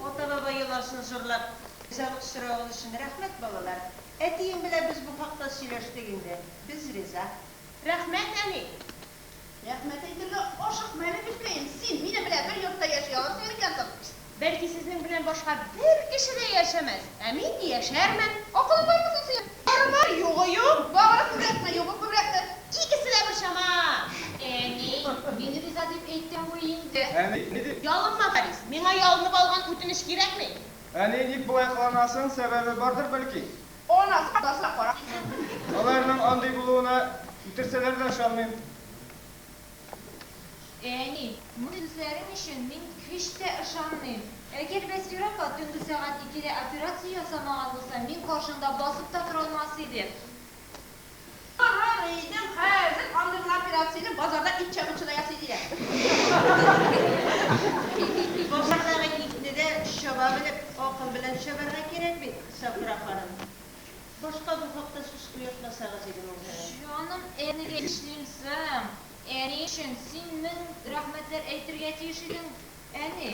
Ата-баба йоласын җырлап ризалык соравың өчен рәхмәт, балалар. Әтиең белән без бу хакта сөйләштек инде. Без риза. Рәхмәт, әни! Рәхмәт әйтергә ашыкма әле, гөлкәем, син минем белән бер йортта яши алырсың микән соң? Пшт! Бәлки сезнең белән башка бер кеше дә яшәмәс, ә мин яшәрмен. Акылың бармы соң синең? Бары бар, югы юк. Бары күбрәкме, югы күбрәкме, икесе дә бер чама! Әни, мин риза дип әйтәм бу инде. Әни, ни дип? Ялынма, Харис, миңа ялынып алган үтенеч кирәкми. Әни, ник болай кыланасың, сәбәбе бардыр бәлки? Ана сукбазга карап. Аларның андый булуына үтерсәләр дә ышанмыйм. Әни, бу сүзләрең өчен мин һич тә ышанмыйм. Әгәр Вәсфир апа төнге сәгать икедә операция ясамаган булса, мин каршында басып та тора алмас идем. Тырыр идем, хәзер андый гына операцияне базарда ит чабучы да ясый, диләр. Базардагы итне дә чаба белеп, акыл белән чабарга кирәк бит, Сафура ханым. Башка бу хакта сүз куертмасагыз иде, Моңһылу. Җаным, әлегә эшлим соң. Әни өчен син мең рәхмәтләр әйтергә тиеш идең, әни.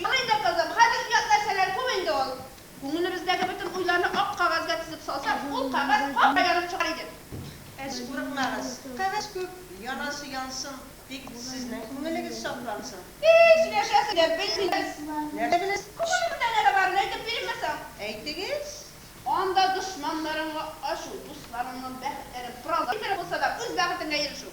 Ярый инде, кызым, хәзер оят нәрсәләр күп инде ул. Күңелебездәге бөтен уйларны ак кәгазьгә тезеп салсак, ул кәгазь кара янып чыгар иде. Әз курыкмагыз, кәгазь күп, янасы янсын, тик сезнең күңелегез саклансын. Һи, сөйләшәсең дә, белмибез. Нәрсә беләсез? Күңелемдә нәрсә барын әйтеп биримме соң? Әйтегез. Анда дошманнарыңа ачу, дусларыңның бәхетләрен кораллар иттереп булса да, үз бәхетеңә ирешү.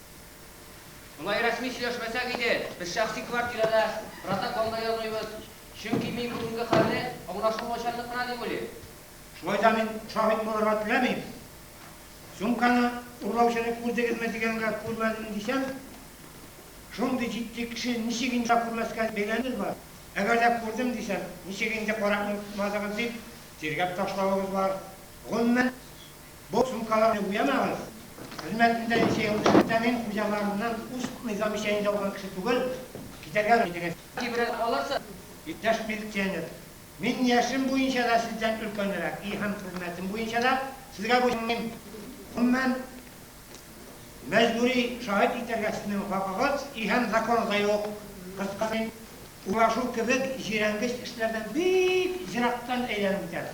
Болай рәсми сөйләшмәсәк иде, без шәхси квартирада протоколда язуйбыз, чөнки мин бүгенге хәлне аңлашылмаучанлык кына дип уйлыйм. Шулай да мин шаһит булырга теләмим. Сумканы урлаучыны күрдегезме дигәнгә күрмәдем дисәм, шундый җитди кеше ничек инде күрмәскә бәйләнегез бар? Әгәр дә күрдем дисәм, ничек инде карап онытмадыгыз дип тиргәп ташлавыгыз бар, гомумән. Бу сумкаларны буямагыз. Хезмәтемдә ничә ел эшләсәм, мин хуҗаларымнан уст низам ишәенде алган кеше түгел, китәргә җитегез. Тибрәк алырсыз. Иптәш милиционер, мин яшем буенча да сездән өлкәнрәк и һәм хезмәтем буенча да сезгә буйсынмыйм. Гомумән, мәҗбүри шаһит итәргә сезнең хакыгыз и һәм законыгызда юк. Кыскасы, мин урлашу кебек җирәнгеч эшләрдән бик ерактан әйләнеп үтәм.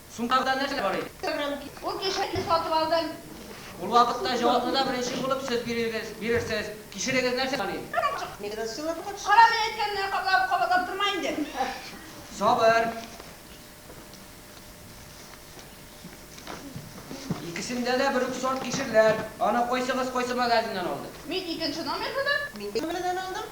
Суммада нәрсә бар иде? Ул кишәкне сатып алдым. Ул вакытта җаваплыда беренче булып сез бирегез, бирерсез. Кишерегез нәрсә булган иде? Кара мин әйткәнне каплап, кабатлап торма инде. Сабыр. Икесендә дә бер үк сорт кишерләр. Аны кайсыгыз кайсы магазиннан алды? Мин икенче номерлыдан. Мин беренче номерлыдан алдым.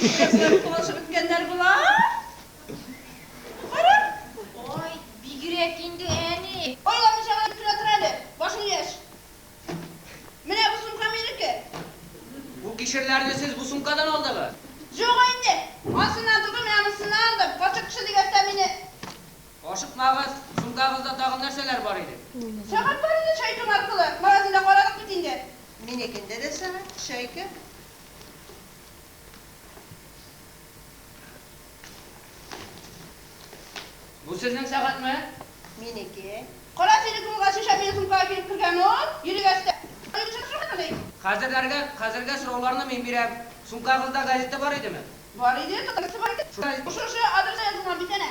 Кешеләр кулашып беткәннәр болар. Кара. Ой, бигрәк инде әни. Айламыйча гына бөтерә тор әле, башың яшь. Менә бу сумка минеке. Бу кишерләрне сез бу сумкадан алдыгыз? Юк инде, ансыннан түгел, менә монсыннан алдым. Карчык кеше дигәч тә мине Ашыкмагыз, шундагызда тагын нәрсәләр бар иде? Сәгать бар иде, чайкым аркылы. Магазинда карадык бит инде. Минекендә дә сәгать, чайка. Бу сезнең сәгатьме? Минеке. Кара сирек юлга шешә мең сумкага килеп кергән ул. Йөрегәч тә. Аны кеше сорыймыни? Хәзерләргә, хәзергә сорауларны мин бирәм. Сумкагызда газета бар идеме? Бар иде, татарчасы бар иде. Шушы газета. Шушы адреска язылган бит әнә.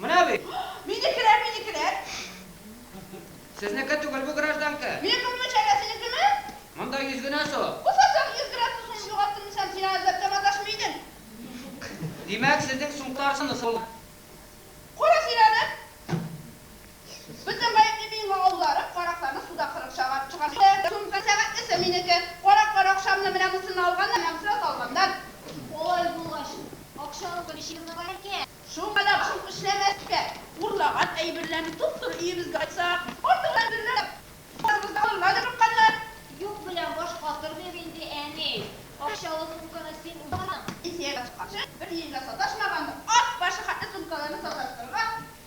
Менә бит! Минекеләр, минекеләр! Сезнеке түгел бу, гражданка! Мин кызның чәйгә синекеме? Монда йөз генә су! Булса, соң йөз грамм сусыңны югалттым дисәм, син аны эзләп тә маташмый идең! Димәк, сезнең сумка арсаны сулган! Кара син аны! Бөтен гаепне мин мавларып, каракларны суда кырып чыгарып чыгарам инде. Сумка сәгатьлесе минеке. Караклар акчамны менә мусына алганнар, намуслы салганнар. Алай булгач, акчалык бер чирны бар икән. Шуңа да башым эшләмәскә, урлаган әйберләрне туп-туры өебезгә кайтсак, артык әйберләр дә барыбызны алырга дип курыкканнар. Юк белән баш катыр дип инде, әни. Акчалы сумканы син уздырдың. Пенсиягә чыкканчы, бер ел да саташмаган ат башы хәтле сумкаларны саташтырырга.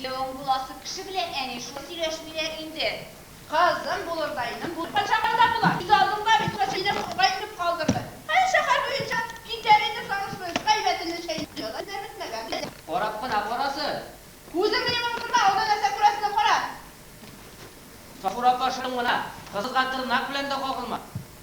Кияүең буласы кеше белән әни шулай сөйләшмиләр инде. Кызым булырдайның бу кайчанга да була. Күз алдымда бит Вәсилә сурга инеп калдырды. Хәер, шәһәр буенча китәр иде Сарышвыйск, әйбәтемне чәйнәп җылы да бетмәгән иде. Карап кына карасын. Күзеңне йомып утырма, алда нәрсә күрәсен дә кара. Сафура апа шым гына, кызга тырнак белән дә кагылма.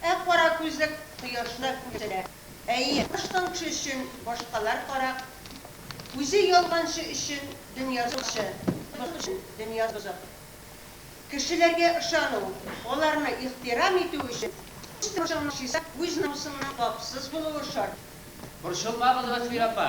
Ә кара күзлек кояшны күрсәтә. Әйе, баш таңчы өчен башкалар карак, үзе ялганчы өчен дөнья сукчы, бозык өчен дөнья бозык. Кешеләргә ышану, аларны ихтирам итү өчен, үз тормышыңның чиста, үз намусыңның пакьсыз булуы шарт. Борчылмагыз, Гасмир апа,